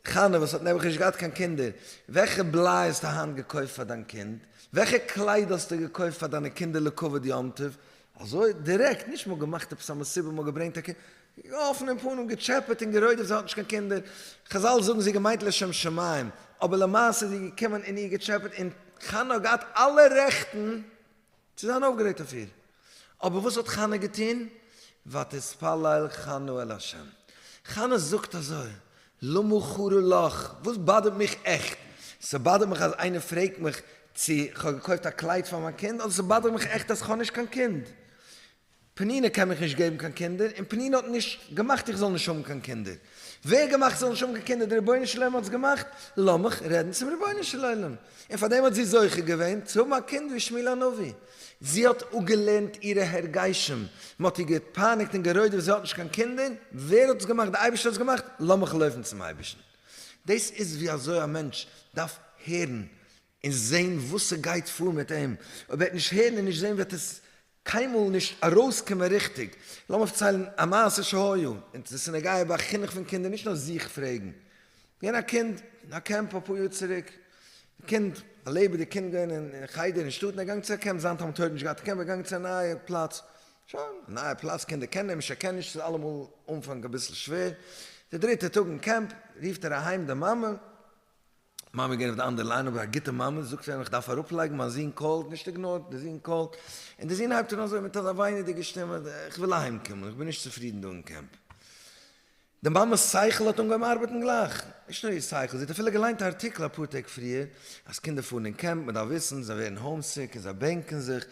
חנה וואס האט נעבעך נישט געהאט קיין קינדער, וועלכע בליי האסטו היינט געקויפט פאר דיין קינד, וועלכע קלייד האסטו געקויפט פאר דיינע קינדער לכבוד יום טוב, אזוי דירעקט, נישט מ'האט געמאכט עפעס א מסיבה, מ'האט געברענגט א קינד, געגאָסן אין פּנים, געטשעפּעט און גערוידעט, זי האָט נישט קיין קינדער. חזל זאָגן, זי האָט געמיינט לשם שמים, אָבער למעשה איז זי געקומען און איר געטשעפּעט און חנה האָט געהאַט אַלע רעכטן צו זיין אויפגערעגט אויף איר. אָבער וואָס האָט חנה געטון? ותתפלל חנה אל השם. חנה זאָגט אַזוי, למה חרה לך? וואָס באַדערט מיך עכט? ס'באַדערט מיך אַז איינער פרעגט מיך צי כ'האָב געקויפט אַ קלייד פאַר מיין קינד, אָדער ס'באַדערט מיך עכט אַז כ'האָב נישט קיין קינד? פּנינה קען מיך נישט געבן קיין קינדער, און פּנינה האָט נישט געמאַכט איך זאָל נישט האָבן קיין קינדער. ווער האָט געמאַכט זאָל נישט האָבן קיין קינדער? דער רבונו של עולם האָט עס געמאַכט. לאָמיך רעדן צום רבונו של עולם. און פאַר דעם האָט זי זוכה געווען צו האָבן אַ קינד ווי שמואל הנביא. זי האָט אָפּגעלערנט אירע הרגשים. מען האָט איר געפּייניקט און גערוידעוועט, זי האָט נישט קיין קינדער. ווער האָט עס געמאַכט? דער אייבערשטער האָט עס געמאַכט. לאָמיך לויפן צום אייבערשטן. דאָס איז ווי אַזוי אַ מענטש דאַרף הערן און זען וואָס ס'גייט פאָר מיט אים. אויב ער וועט נישט הערן און נישט זען וועט עס קיינמאל נישט ארויסקומען ריכטיג. לאמיר פארציילן א מעשה שהיה, און די סינעגאגע ביי חינוך פון קינדער נישט נאר זיך פרעגן. געווען א קינד אין א קעמפ אפאר יאר צוריק, די קינד א לעבעדיג קינד געווען אין חדר אין שטאט און ער איז געגאנגען צו א קעמפ, זיין תלמיד האט נישט געהאט א קעמפ ער איז געגאנגען צו א נייע פלאץ, שוין א נייע פלאץ קינדער קענען אים נישט ער קען נישט ס'איז אלעמאל אנפאנג אביסל שווער, די דריטע טאג אין קעמפ רופט ער אהיים די מאמע, מאמע געווען אויף די אנדערע ליין אבער א גוטע מאמע, זאגט צו אים איך דארף אראפלייגן מיין זון קאלט, נישט איגנארט, די זון קאלט, און די זון הייבט אן אזוי מיט אזא וויינעדיגע שטימע, איך וויל אהיים קומען, איך בין נישט צופרידן דא אין קעמפ. די מאמע'ס שכל האט אנגעהויבן ארבעטן גלייך, נישט נאר איר שכל, זי האט אפילו געליינט א ארטיקל אפאר טעג פריער אז קינדער פארן אין קעמפ, מען דארף וויסן, זיי ווערן האומסיק און זיי בענקן זיך,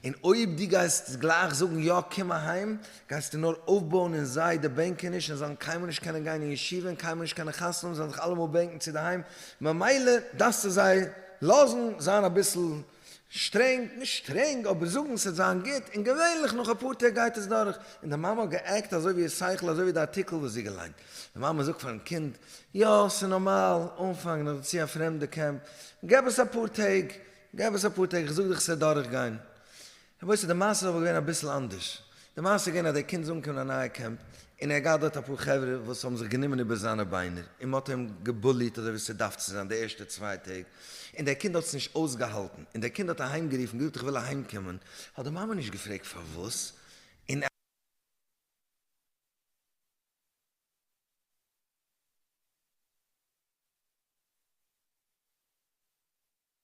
און אויב דו גייסט גלייך זאגן יא קום אהיים, גייסטו נאר אויפבויען אין זיי די בענקעניש, און זיי וועלן קיינמאל נישט קענען גיין אין ישיבה און קיינמאל נישט קענען חתונה האבן, זיי וועלן זיך אלעמאל בענקן צו די היים, ממילא דארפסטו זיי לאזן זיין אביסל שטרענג, נישט שטרענג אבער זאגן ס'וועט זיין גוט, און געווענליך נאך אפאר טעג גייט עס דורך, און די מאמע האט גע'עקט אזוי ווי איר שכל אזוי ווי די ארטיקל וואס זי געליינט, די מאמע זאגט פארן קינד, יא ס'איז נארמאל, אנפאנג נאך דערצו א פרעמדע קעמפ, געב עס אפאר טעג, געב עס אפאר טעג, איך זאג דיך ס'וועט דורכגיין, למעשה די מעשה איז אבער געווען אביסל אנדערש, די מעשה איז געווען אז דער קינד איז אנגעקומען אין א נייע קעמפ, און ער האט געהאט דארט אפאר חברה וואס האבן זיך גענומען איבער זיינע ביינער, און מען האט אים געבוליט אזוי ווי עס דארף צו זיין די ערשטע צוויי טעג, און דער קינד האט עס נישט אויסגעהאלטן, און דער קינד האט אהיים גערופן געזאגט איך וויל אהיים קומען, האט די מאמע נישט געפרעגט פארוואס, און.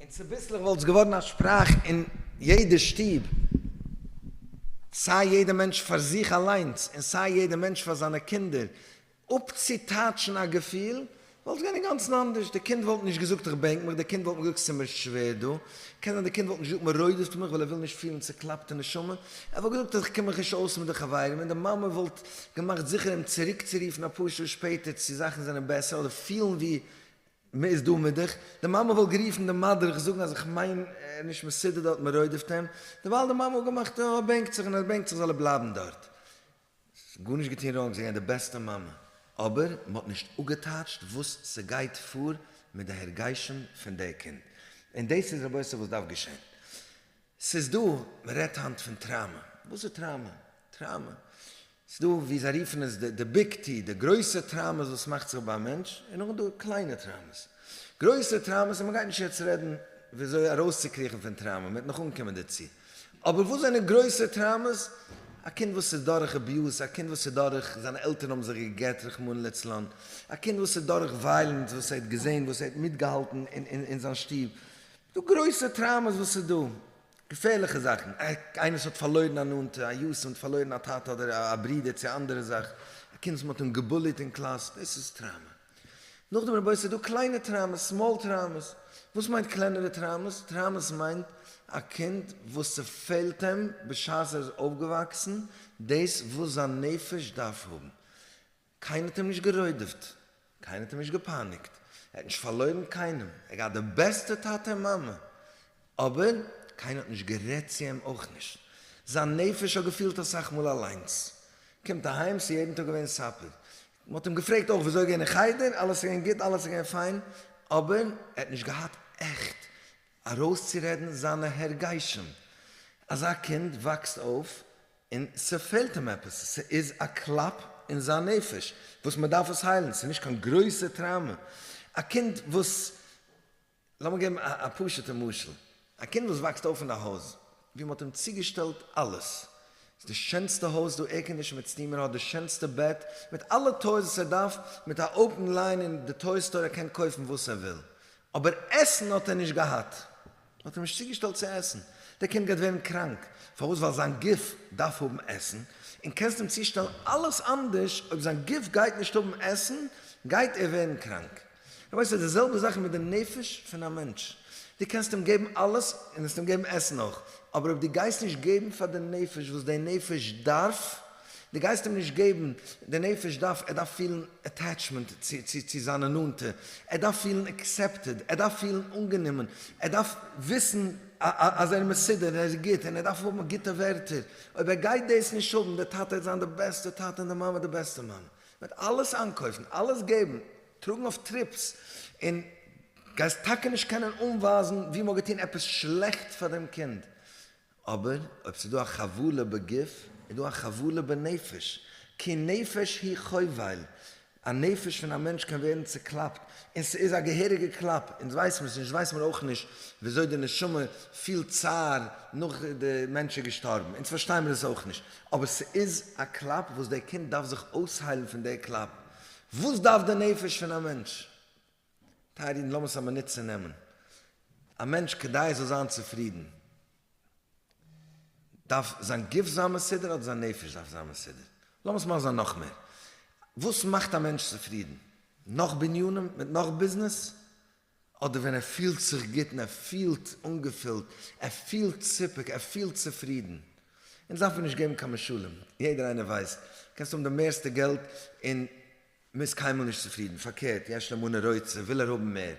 און צוביסלעך וואלט עס געווארן א שפראך אין יעדע שטוב, סיי יעדע מענטש פאר זיך אליינס און סיי יעדע מענטש פאר זיינע קינדער, אפצוטייטשן א געפיל, וואלט געווען אינגאנצן אנדערש, די קינד וואלט נישט געזאגט איך בענק מיך, די קינד וואלט נישט געזאגט ס'איז מיר שווער דא, קען זיין די קינד וואלט נישט געזאגט מ'רוידעפט מיך ווייל ער וויל נישט פילן צוקלאפטע נשמה, ער וואלט געזאגט איך קום מיך נישט אויס מיט די חברים, און די מאמע וואלט געמאכט זיכער אים צוריקצורופן אפאר שעה שפעטער צו זאכן זענען בעסער אדער פילן ווי מ'איז דא מיט דיך, די מאמע וואלט גערופן די מדריך זאגן אז איך מיין ער איז נישט מסודר דארט מ'רוידעפט אים, דערווייל די מאמע וואלט געמאכט ער בענקט זיך און אז ער בענקט זיך זאל ער בלייבן דארט. ס'איז גארנישט געטון ראנג, זי איז געווען די בעסטע מאמע, אבער מען האט נישט אפגעטייטשט וואס ס'גייט פאר מיט די הרגשים פון די קינד, און דאס איז רבותי וואס דארף געשען. ס'איז דא, מען רעדט היינט פון טראמע, וואס איז טראמע? טראמע, ס'איז דא ווי זיי רופן עס די ביג טי, די גרויסע טראמעס וואס מאכט זיך ביים מענטש, און נאכדעם איז דא קליינע טראמעס, גרויסע טראמעס, און מען גייט נישט יעצט רעדן ווי אזוי ארויסצוקריכן פון טראמע, מען וועט נאך אנקומען דערצו. אבער וואס זענען גרויסע טראומעס? א קינד וואס איז דורך אביוז, א קינד וואס איז דורך זיינע עלטערן האבן זיך געגט רחמנא לצלן, א קינד וואס איז דורך וויילענס וואס ער האט געזען, וואס ער האט מיטגעהאלטן אין זיין שטוב, ס'דא גרויסע טראומעס וואס איז דא, געפערליכע זאכן, איינער וואס האט פארלוירן א נאנטע, א יתום האט פארלוירן א טאטע אדער א ברודער צו א אנדערע זאך, א קינד וואס מ'האט אים געבוליט אין קלאס, דאס איז טראומא. נאכדעם רבותי ס'דא קליינע טראמעס, סמאל טראמעס, וואס מיינט קלענערע טראמעס? טראמעס מיינט א קינד וואס ס'פעלט אים בשעת ער איז אויפגעוואקסן דאס וואס זיין נפש דארף האבן, קיינער האט אים נישט גערוידעפט, קיינער האט אים נישט געפייניגט, ער האט נישט פארלוירן קיינעם, ער האט געהאט די בעסטע טאטע און מאמע, אבער קיינער האט נישט גערעדט צו אים אויך נישט, זיין נפש האט געפילט אסאך מאל אליינס, קומט אהיים ס'איז יעדן טאג געווען סאפער, מען האט אים געפרעגט אויך וויאזוי געווען אין חדר, אלעס איז געווען גוט, אלעס איז געווען פיין, אבער ער האט נישט געהאט עכט ארויסצורעדן זיינע הרגשים, אזא קינד וואקסט אויף און ס'פעלט אים עפעס, ס'איז א קלאפ אין זיין נפש וואס מען דארף עס היילן, ס'איז נישט קיין גרויסע טראומע, א קינד וואס לאמיר געבן א פשוט'ע משל, א קינד וואס וואקסט אויף אין א הויז ווי מען האט אים צוגעשטעלט אלעס, ס'איז די שענסטע הויז, דא עירקאנדישן מיט סטימער, האט די שענסטע בעט, מיט אלע טויס וואס ער דארף, מיט א אויפן ליין אין די טוי סטאר, ער קען קויפן וואס ער וויל, אבער עסן האט ער נישט געהאט, מען האט אים נישט צוגעשטעלט צו עסן, דער קינד גייט ווערן קראנק, פארוואס? ווייל זיין גוף דארף האבן עסן, און קענסט אים צושטעלן אלעס אנדערש, אויב זיין גוף גייט נישט האבן עסן גייט ער ווערן קראנק. רבותי ס'איז די זעלבע זאך מיט די נפש פון א מענטש, דו קענסט אים געבן אלעס און וועסט אים געבן עסן אויך, אבער אויב דו גייסט נישט געבן פאר די נפש וואס די נפש דארף, דו גייסט אים נישט געבן, די נפש דארף, ער דארף פילן עטעטשמענט צו צו זיינע נאנטע, ער דארף פילן עקסעפטעד, ער דארף פילן אנגענומען, ער דארף וויסן אז ער איז מסודר און ער איז גוט און ער דארף האבן גוטע ווערטער, אויב ער גייט דאס נישט האבן, די טאטע העט זיין די בעסטע טאטע און די מאמע די בעסטע מאמע, מיט אלעס איינקויפן, אלעס געבן, טראגן אויף טריפס, און גייסט טאקע נישט קענען אנווייזן וואו מען האט געטון עפעס שלעכט פאר דעם קינד, אבער אויב ס'איז דא א חבלה בגוף, איז דא א חבלה בנפש, כי נפש היא חובל, א נפש פון א מענטש קען ווערן צעקלאפט, און ס'איז א געהעריגע קלאפ, אונז ווייסן עס נישט, ווייסט מען אויך נישט ווי אזוי די נשמה פילט צער נאך די מענטש איז געשטארבן, אונז פארשטייען מיר עס אויך נישט, אבער ס'איז א קלאפ וואס דער קינד דארף זיך אויסהיילן פון דער קלאפ. וואס דארף די נפש פון א מענטש? טייערע אידן, לאמיר עס א מינוט צונעמען. א מענטש, כדי ער זאל זיין צופרידן, דארף זיין גוף זיין מסודר אדער זיין נפש דארף זיין מסודר? לאמיר עס מאכן זיין נאך מער. וואס מאכט א מענטש צופרידן? נאך בנינים מיט נאך ביזנעס? אדער ווען ער פילט זיך גוט און ער פילט אנגעפילט, ער פילט סיפוק, ער פילט צופרידן. אונז דארף מיר נישט געבן קיין משלים, יעדער איינער ווייסט, קענסט האבן די מערסטע געלט און מ'איז קיינמאל נישט צופרידן, פארקערט, יש לו מנה רוצה, וויל ער האבן מער,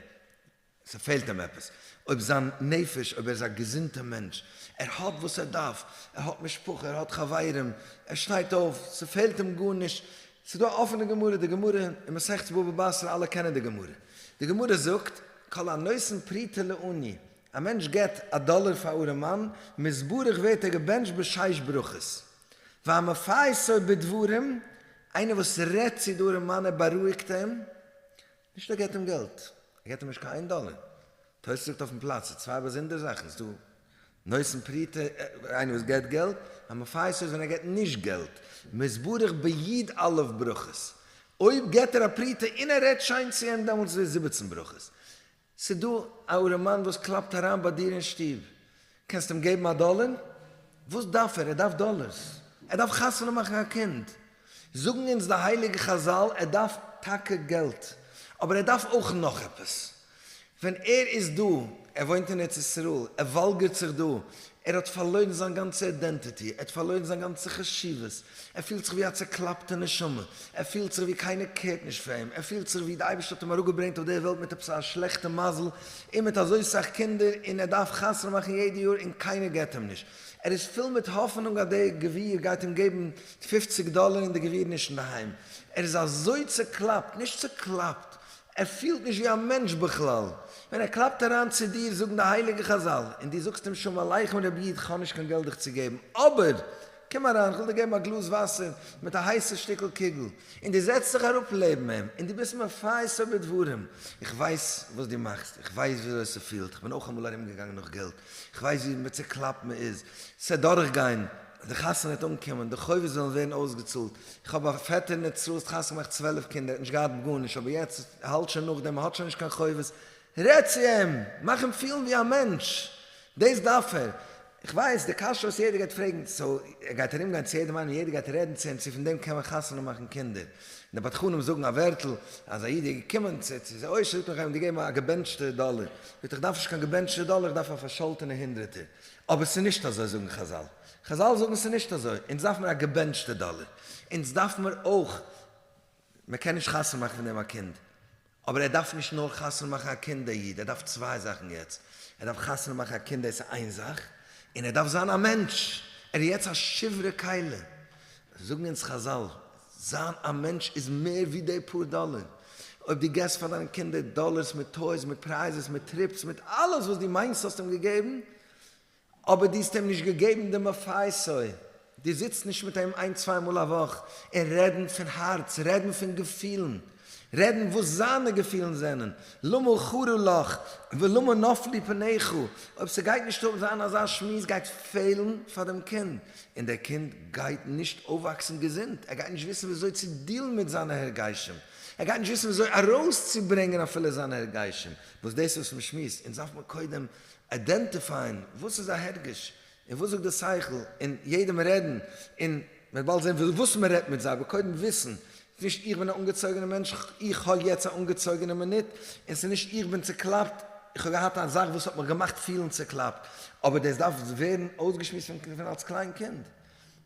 ס'פעלט אים עפעס. אויב זיין נפש, אויב ער איז א געזונטע מענטש, ער האט וואס ער דארף, ער האט משפחה, ער האט חברים, ער שטייט אויף, ס'פעלט אים גארנישט, ס'איז דא א אפענע גמרא, די גמרא אין מסכת בבא בתרא, אלע קענען די גמרא, די גמרא זאגט, כל הנותן פרוטה לעני, א מענטש געבט א דאלער פאר א ארעמאן, מזברך ווערט ער געבענטשט בשש ברכות. והמפייסו בדברים, איינער וואס רעדט צו די ארעמאן, ער בארואיגט אים, נישט ער געט אים געלט, ער געט אים נישט קיין איין דאלער. תוס' זאגט אויפן פלאץ, ס'איז צוויי באזונדערע זאכן, ס'איז דא נושאים פרוטה, איינער וואס געט געלט, א מפייס איז ווען ער געט נישט געלט, מ'איז ברך ביד א' ברכות, אויב געט ער א פרוטה און ער רעדט שיין צו אים דעמאלטס איז ער זיבעצן ברכות. ס'איז דא א ארעמאן וואס קלאפט אריין ביי דיר אין שטוב, קענסט אים געבן א דאלער? וואס דארף ער? ער דארף דאלערס. ער דארף חתונה מאכן א קינד. זאגן אונז די הייליגע חזל ער דארף טאקע געלט, אבער ער דארף אויך נאך עפעס. ווען ער איז דא, ער וואוינט אין ארץ ישראל, ער וואלגערט זיך דא, ער האט פארלוירן זיין גאנצע אידענטיטי, ער האט פארלוירן זיין גאנצע חשיבות, ער פילט זיך ווי א צעקלאפטע נשמה, ער פילט זיך ווי קיינער קערט נישט פאר אים, ער פילט זיך ווי די אייבערשטער האט אים אראפגעברענגט אויף דער וועלט מיט עפעס א שלעכטע מזל, און מיט אזוי סאך קינדער און ער דארף חתונה מאכן יעדע יאר און קיינער געט אים נישט, ער איז פול מיט האפענונג אז דער גביר גייט אים געבן פופציג דאלער און דער גביר איז נישט אינדערהיים, ער איז אזוי צוקלאפט, נישט צוקלאפט, ער פילט נישט ווי א מענטש בכלל, ווען ער קלאפט אריין צו דיר זאגן די הייליגע חזל און דו זאגסט אים שלום עליכם רבי איד כ'האב נישט קיין געלט דיך צו געבן אבער קום אריין, איך וויל דיר געבן א גלאז וואסער מיט א הייסע שטיקל קוגל, און דו זעצט זיך אראפ לעבן אים, און דו ביסט מפייס איבער דברים, איך ווייס וואס דו מאכסט, איך ווייס ווי אזוי ס'פילט, איך בין אויך אמאל ארום געגאנגען נאך געלט, איך ווייס ווי מצוקלאפט מען איז, ס'וועט דורך גיין, די חתונה וועט אנקומען, די חובות וועלן ווערן אויסגעצאלט, איך האב א פעטער ניט צרות חתונה געמאכט צוועלף קינדער, ער האט נישט געהאט גארנישט, אבער יעצט האלט שוין נאך דעם, ער האט שוין נישט קיין חובות, רעד צו אים, מאך אים פילן ווי א מענטש, דאס דארף ער. כ'ווייס, די קשיא וואס יעדער גייט פרעגן, סאו ער גייט ארום גיין צו יעדעם איינעם און יעדער גייט רעדן צו אים צו פון דעם קען מען חתונה מאכן קינדער, די בדחנים זאגן א ווערטל אז א איד איז געקומען צו צו זיי אויש זאגט ער איך גיי אים געבן א געבענטשטע דאלער, זאגט ער איך דארף נישט קיין געבענטשטע דאלער איך דארף א פארשאלטענע הונדרעטער, אבער ס'איז נישט אזוי זאגן חזל, חזל זאגן ס'איז נישט אזוי, אונז דארף מיר א געבענטשטע דאלער, אונז דארף מיר אויך מען קען נישט חתונה מאכן פון דעם א קינד, אבער ער דארף נישט נאר חתונה מאכן א קינד דער איד, ער דארף צוויי זאכן יעצט, ער דארף חתונה מאכן א קינד דאס איז איין זאך, און ער דארף זיין א מענטש, ער איז יעצט א שברי כלה, זאגן אונז חזל, זיין א מענטש איז מער ווי די פאר דאלער, אויב דו געבסט פאר דיינע קינדער דאלערס מיט טויס מיט פרייזעס מיט טריפס מיט אלעס וואס דו מיינסט האסטו אים געגעבן, אבער דו האסט אים נישט געגעבן די מפעי סוי, דו זיצט נישט מיט אים איין צוויי מאל א וואך און רעדן פון הארץ, רעדן פון געפילן, רעדן וואס זיינע געפילן זענען, למה חרו לך ולמה נפלו פניך, אויב ס'גייט נישט אויף זיין אזא שמועס גייט פעלן פאר דעם קינד, און דער קינד גייט נישט אויפוואקסן געזונט, ער גייט נישט וויסן ווי אזוי צו דילן מיט זיינע הרגשים, ער גייט נישט וויסן ווי אזוי ארויסצוברענגען אפילו זיינע הרגשים, וואס דאס איז פון שמועס, אונז דארף מען קודם איידענטיפייען וואס איז א הרגש און וואס זאגט די שכל און יעדעם רעדן און מען באלד זען וואס מען רעדט מיט זיי אבער קודם וויסן ס'איז נישט איך בין א אנגעצויגענע מענטש איך האב יעצט א אנגעצויגענע מינוט און ס'איז נישט איך בין צוקלאפט איך האב געהאט א זאך וואס האט מיך געמאכט פילן צוקלאפט אבער דאס דארף ווערן אויסגעשמועסט פון אלס קליין קינד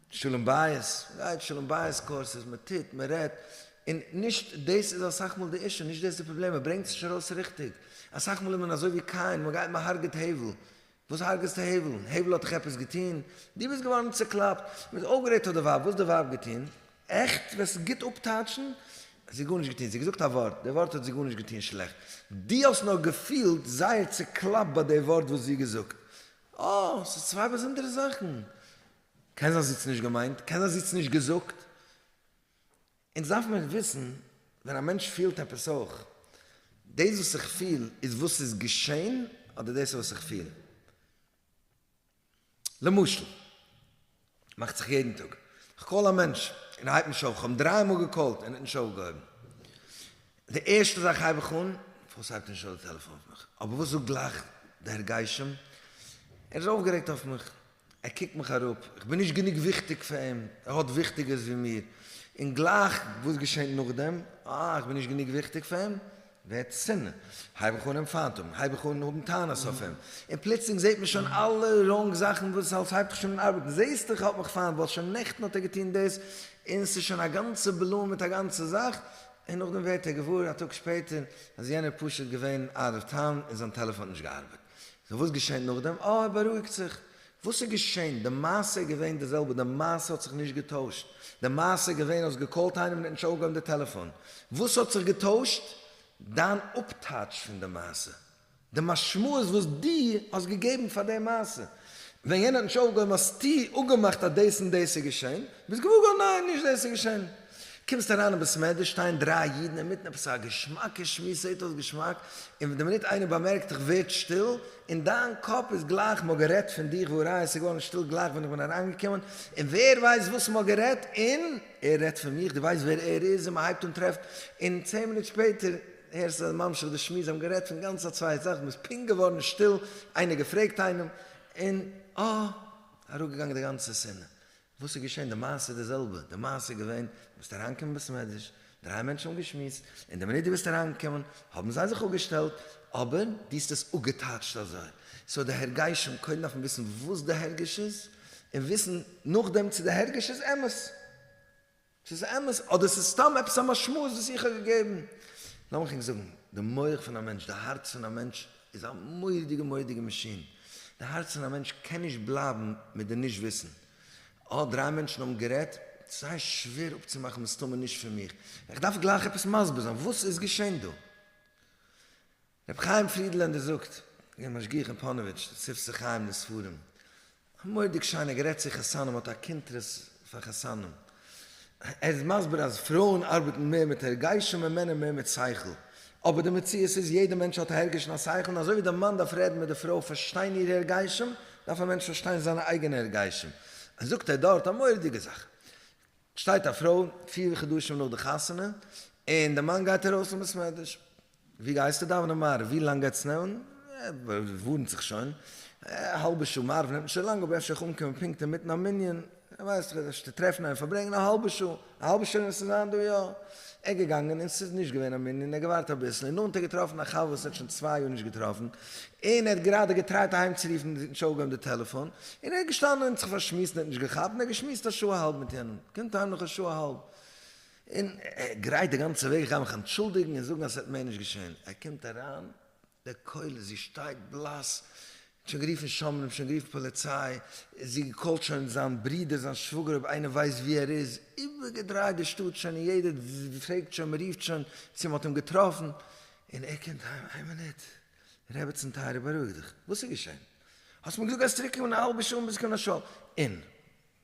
שלום בית, מ'גייט שלום בית קורסעס, מ'טוט, מ'רעדט, און נישט דאס איז אסאך מאל די אישו, נישט דאס איז די פראבלעם, מ'ברענגט עס נישט ארויס ריכטיג, אסאך מאל איז מען אזוי ווי קין, מ'גייט מ'הרג'עט הבל, וואס הרג'סטו הבל? הבל האט דאך עפעס געטון? דו ביסט געווארן צוקלאפט, מ'האט אויפגערעדט אויף די ווייב, וואס האט די ווייב געטון? עכט? וועסט עס גוט אפטייטשן? זי האט גארנישט געטון, זי האט געזאגט א ווארט, די ווארט האט זי גארנישט געטון שלעכט, דו האסט נאר געפילט זייער צוקלאפט ביי די ווארט וואס זי האט געזאגט, אה, ס'איז צוויי באזונדערע זאכן, קיין זיין זיץ נישט געמיינט, קיין זיין זיץ נישט געזאגט. אונז דארף מען וויסן ווען א מענטש פילט עפעס אויך, דאס וואס איך פיל איז וואס איז געשען אדער דאס איז וואס איך פיל? למשל, מאכט זיך יעדן טאג, איך קאל א מענטש און ער הייבט נישט אויף, איך האב דריי מאל געקאלט און ער האט נישט אויפגעהויבן, די ערשטע זאך הייב איך אן, פארוואס הייבט נישט אויף די טעלעפאן אויף מיך? אבער וואס זאגט גלייך דער גשם? ער איז אויפגערעגט אויף מיך. ער קוקט מיך אראפ, איך בין נישט גענוג וויכטיג פאר אים, ער האט וויכטיגערס ווי מיר. און גלייך וואס געשענט נאכדעם? אה, איך בין נישט גענוג וויכטיג פאר אים? ווערט שנאה, הייב איך אן אים פיינט האבן, הייב איך אן האבן טענות אויף אים, און פלוצלינג זעט מען שוין אלע ראנג זאכן וואס אלס הייבט זיך שוין אן ארבעטן, זעסט איך האב מיך פיינט ווייל שוין נעכטן האט ער געטון דאס, און ס'איז שוין א גאנצע בלאן מיט א גאנצע זאך, און נאכדעם ווערט ער געוואר א טאג שפעטער אז יענער פשוט געווען אוט אוו טאון און זיין טעלעפאן האט נישט געארבעט. נו וואס געשעהן נאכדעם? אה ער בארואיגט זיך. וואס איז געשעהן? די מעשה איז געווען די זעלבע, די מעשה האט זיך נישט געטוישט. די מעשה איז געווען האסט געקאלט איינעם און ער האט נישט אויפגעהויבן די טעלעפאן. וואס האט זיך געטוישט? דיין אפטייטש פון די מעשה. די משמעות וואס דו האסט געגעבן פאר די מעשה. ווען יענער האט נישט אויפגעהויבן האסטו אפגעמאכט אז דאס און דאס איז געשעהן. ביסט געוואר געווארן ניין, נישט דאס איז געשעהן. קומסט אריין אין ביסמעדער שטייען דריי אידן אינמיטן עפעס א געשמאקע שמועס זעהט אויס געשמאק, און די מינוט איינער באמערקט דיך ווערט שטיל, און דיין קאפ איז גלייך מען האט גערעדט פון דיך וואו אריין עס איז געווארן שטיל גלייך ווען איך בין אריינגעקומען, און ווער ווייסט וואס מען האט גערעדט, און ער רעדט פון מיך, דו ווייסט ווער ער איז, און מען הייבט אן טרעפט, און צען מינוט שפעטער הערסטו אז ממשיך די שמועס זיי האבן גערעדט פון גאנץ א צווייטע זאך, ביסט פונקט געווארן שטיל, איינער געפרעגט איינעם, און אה! אראפגעגאנגען די גאנצע שנאה, וואס איז געשען? די מעשה איז די זעלבע, די מעשה איז געווען, דו ביסט אריינגעקומען בית מדרש, דריי מענטשן האבן געשמועסט, און די מינוט דו ביסט אריינגעקומען האבן זיי זיך אפגעשטעלט, אבער דו האסט עס אפגעטייטשט אזוי, סאו די הרגשים, קודם דארף מען וויסן וואס די הרגש איז, און וויסן נאכדעם צו די הרגש איז אמת. ס'איז אמת אדער ס'איז סתם עפעס א משמעות וואס איך האב געגעבן? לאמיך ענק זאגן, די מח פון א מענטש, די הארץ פון א מענטש, איז א מורא'דיגע מורא'דיגע מאשין. די הארץ פון א מענטש קען נישט בלייבן מיט די נישט וויסן. אה, דריי מענטשן האבן גערעדט? ס'זייער שווער אפצומאכן מסתמא נישט פון מיך. איך דארף גלייך עפעס מסביר זיין וואס איז געשען דא. רבי חיים פרידלענדער זאגט, געווען משגיח אין פאנעוויטש, ספסל חיים די ספרים, א מורא'דיג שיינער גערעדט צו חתנים האט א קונטרס פאר חתנים, ער איז מסביר אז פרויען ארבעטן מער מיט הרגשים און מענער מער מיט שכל, אבער די מציאות איז יעדע מענטש האט א הרגש און א שכל און אזוי ווי דער מאן דארף רעדן מיט די פרוי פארשטיין אירע הרגשים דארף א מענטש פארשטיין זיינע אייגענע הרגשים, זאגט ער דארט א מורא'דיגע זאך. שטייט א פרוי פיר חדשים נאך די חתונה און די מאן גייט ארויס למסמדש, ווי גייסטו דאווענען מעריב? ווי לאנג גייט עס נעמען? ווארנט זיך שוין א האלבע שעה, מעריב נעמט נישט אזוי לאנג אבער אפשר איך אנקומען פונקט אינמיטן א מנין, ווייסט איך וועסט נישט טרעפן איינעם פארברענגען א האלבע שעה, א האלבע שעה וועסטו זיין דא יא, ער געגאנגען און ס'איז נישט געווען א מנין, ער געווארט אביסל און נאנט ער געטראפן א חבר וואס ער האט שוין צוויי יאר נישט געטראפן, און ער האט גראדע געטרייט אהיימצורופן די זיבן שעה אגענט די טעלעפאן, און ער איז געשטאנען און זיך פארשמועסט און ער האט נישט געכאפט, און ער האט געשמועסט א שעה אהאלב מיט יענעם, קומט אהיים נאך א שעה אהאלב, און גרייט די גאנצע וועג, איך גיי מיך אנטשולדיגן און זאגן אז עס וועט מער נישט געשען, ער קומט אריין, די כלה, זי שטייט בלאס, שוין גערופן שומרים, שוין גערופן פאליציי, זי קאלט שוין זיין ברודער, זיין שוואגער אויב איינער ווייסט ווי ער איז, איבערגעדרייט די שטאט שוין און יעדער פרעגט שוין, מען רופט שוין צו מען האט אים געטראפן, און ער קומט אהיים, איין מינוט, רעבעצן טייערע בארואיג דיך, וואס איז געשען? האסט מיר געזאגט אז צוריק קומען א האלבע שעה און ביז קנה שול, און?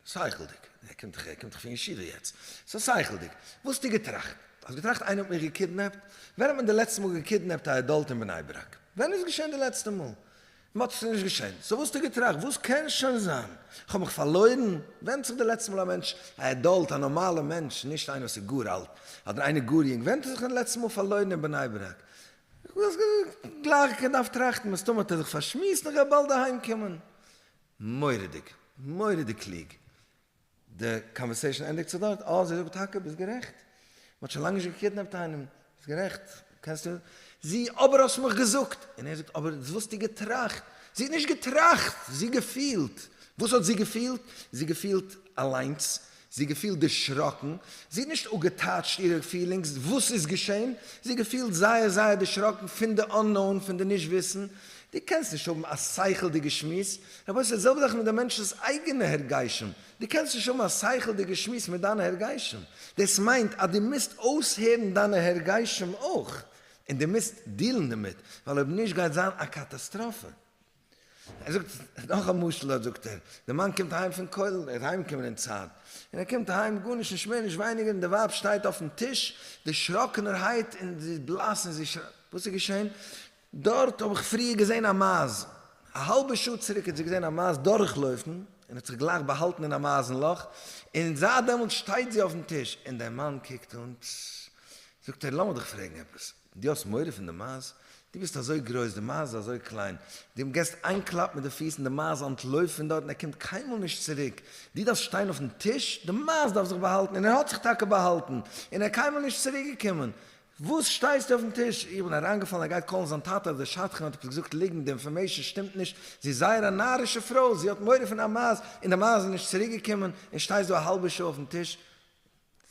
שכל'דיג, ער קומט דאך, ער קומט דאך פון ישיבה יעצט, סא שכל'דיג, וואס האסטו געטראכט? האסט געטראכט איינער האט מיך געקידנעפט? ווען האט מען די לעצטע מאל געקידנעפט א עדאלט אין בני ברק? ווען איז געשען די לעצטע מאל? מ'האט עס נישט געשענט, סאו וואס האסטו געטראכט? וואס קען שוין זיין? כ'האב מיך פארלוירן? ווענדט זיך די לעצטע מאל א מענטש, א עדאלט, א נארמאלע מענטש, נישט איינער וואס איז גאר אלט, אדער איינער גאר יונג, ווענדט ער זיך די לעצטע מאל פארלוירן אין בני ברק? גלייך כ'דארף טראכטן, מסתמא האט ער זיך פארשמועסט נאך ער וועט באלד אהיימקומען. מורא'דיג. מורא'דיג קלוג. די קאנווערסעישאן ענדיגט זיך דארט, אה זי זאגט טאקע, ביסט גערעכט, מען האט שוין לאנג נישט געקידנעפט איינעם, ביסט גערעכט, קענסטו, זי, אבער האסט מיך געזאגט, און ער זאגט, אבער דאס וואלסטו געטראכט, זי האט נישט געטראכט, זי געפילט, וואס האט זי געפילט? זי געפילט אליינס, זי געפילט דערשראקן, זי האט נישט אפגעטייטשט אירע פילינגס, וואס איז געשען? זי געפילט זייער זייער דערשראקן פון די אננאון, פון די נישט וויסן, דו קענסט נישט האבן א שכל'דיגע שמועס, רבותי ס'איז די זעלבע זאך מיט די מענטש'נס אייגענע הרגשים, דו קענסט נישט האבן א שכל'דיגע שמועס מיט דיינע הרגשים, דאס מיינט אז דו מוזט אויסהערן דיינע הרגשים אויך, און דו מוזט דיעלן דערמיט, ווייל אויב נישט גייט זיין א קאטאסטראפע. ער זאגט נאך א משל, דארט זאגט ער, די מאן קומט אהיים פון כולל, ער איז אהיימגעקומען אין צייט, און ער קומט אהיים גארנישט נישט מער נישט ווייניגער, און די ווייב שטייט אויפן טיש דערשראקענערהייט און זי איז בלאס און זי שרייט, וואס איז געשען? דארט האב איך פריער געזען א מייז. א האלבע שעה צוריק האט זי געזען א מייז דורכלויפן, און האט זיך גלייך באהאלטן אין א מייזן לאך, און זייט דעמאלטס שטייט זי אויפן טיש, און דער מאן קוקט אן, טז. זאגט ער, לאמיר דיך פרעגן עפעס, דו האסט מורא פון די מייז? דו ביסט אזוי גרויס, די מייז איז אזוי קליין, דו געסט איין קלאפ מיט די פיס און די מייז אנטלויפט פון דארט און ער קומט קיינמאל נישט צוריק, דו דארפסט שטיין אויפן טיש, די מייז דארף זיך באהאלטן, און ער האט זיך טאקע באהאלטן, און ער קיינמאל נישט צוריקגעקומען, וואס שטייסטו אויפן טיש? איך בין אריינגעפאלן ער גייט קאלן זיין טאטע אז די שדכן האט עפעס געזאגט ליגנט, די אינפארמעישן שטימט נישט, זי איז זייער א נארישע פרוי, זי האט מורא פון א מייז, און די מייז איז נישט צוריקגעקומען, און שטייסט דא א האלבע שעה אויפן טיש,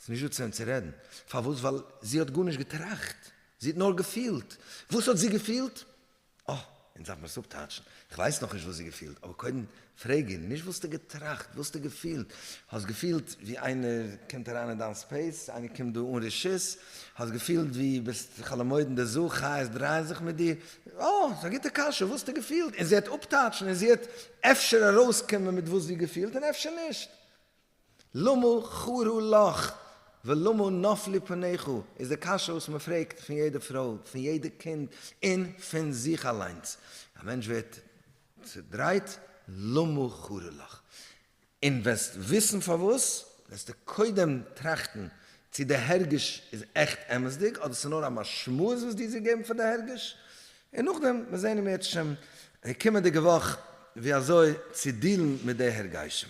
ס'איז נישט דא צו וועם צו רעדן, פארוואס? ווייל זי האט גארנישט געטראכט, זי האט נאר געפילט, וואס האט זי געפילט? אה, אונז דארף מיר עס אפטייטשן. כ'ווייס נאכנישט וואס זי געפילט, אבער קודם פרעג איר נישט וואסטו געטראכט, וואסטו געפילט. האסט געפילט ווי איינער קומט אריין אין דיין ספעיס, איינער קומט דא אן רשות, האסט געפילט ווי ביסט חאלעמוידן די זאל, חיות דרייען זיך מיט דיר, אה, ס'איז א גוטע קשיא, וואסטו געפילט, און זי העט אפטייטשן און זי העט אפשר ארויסקומען מיט וואס זי געפילט און אפשר נישט. למה חרו לך ולמה נפלו פניך איז די קשיא וואס מען פרעגט פון יעדע פרוי, פון יעדע קינד, און פון זיך אליינס. א מענטש ווערט צודרייט, למה חרו לך? און וועסט וויסן פארוואס, וועסטו קודם טראכטן צי די הרגש איז עכט אמת'דיג אדער ס'נאר א משמעות וואס דו האסט געגעבן פאר די הרגש. און נאכדעם וועט זען מיר עטשעם די קומענדיגע וואך ווי אזוי צו דילן מיט די הרגשים.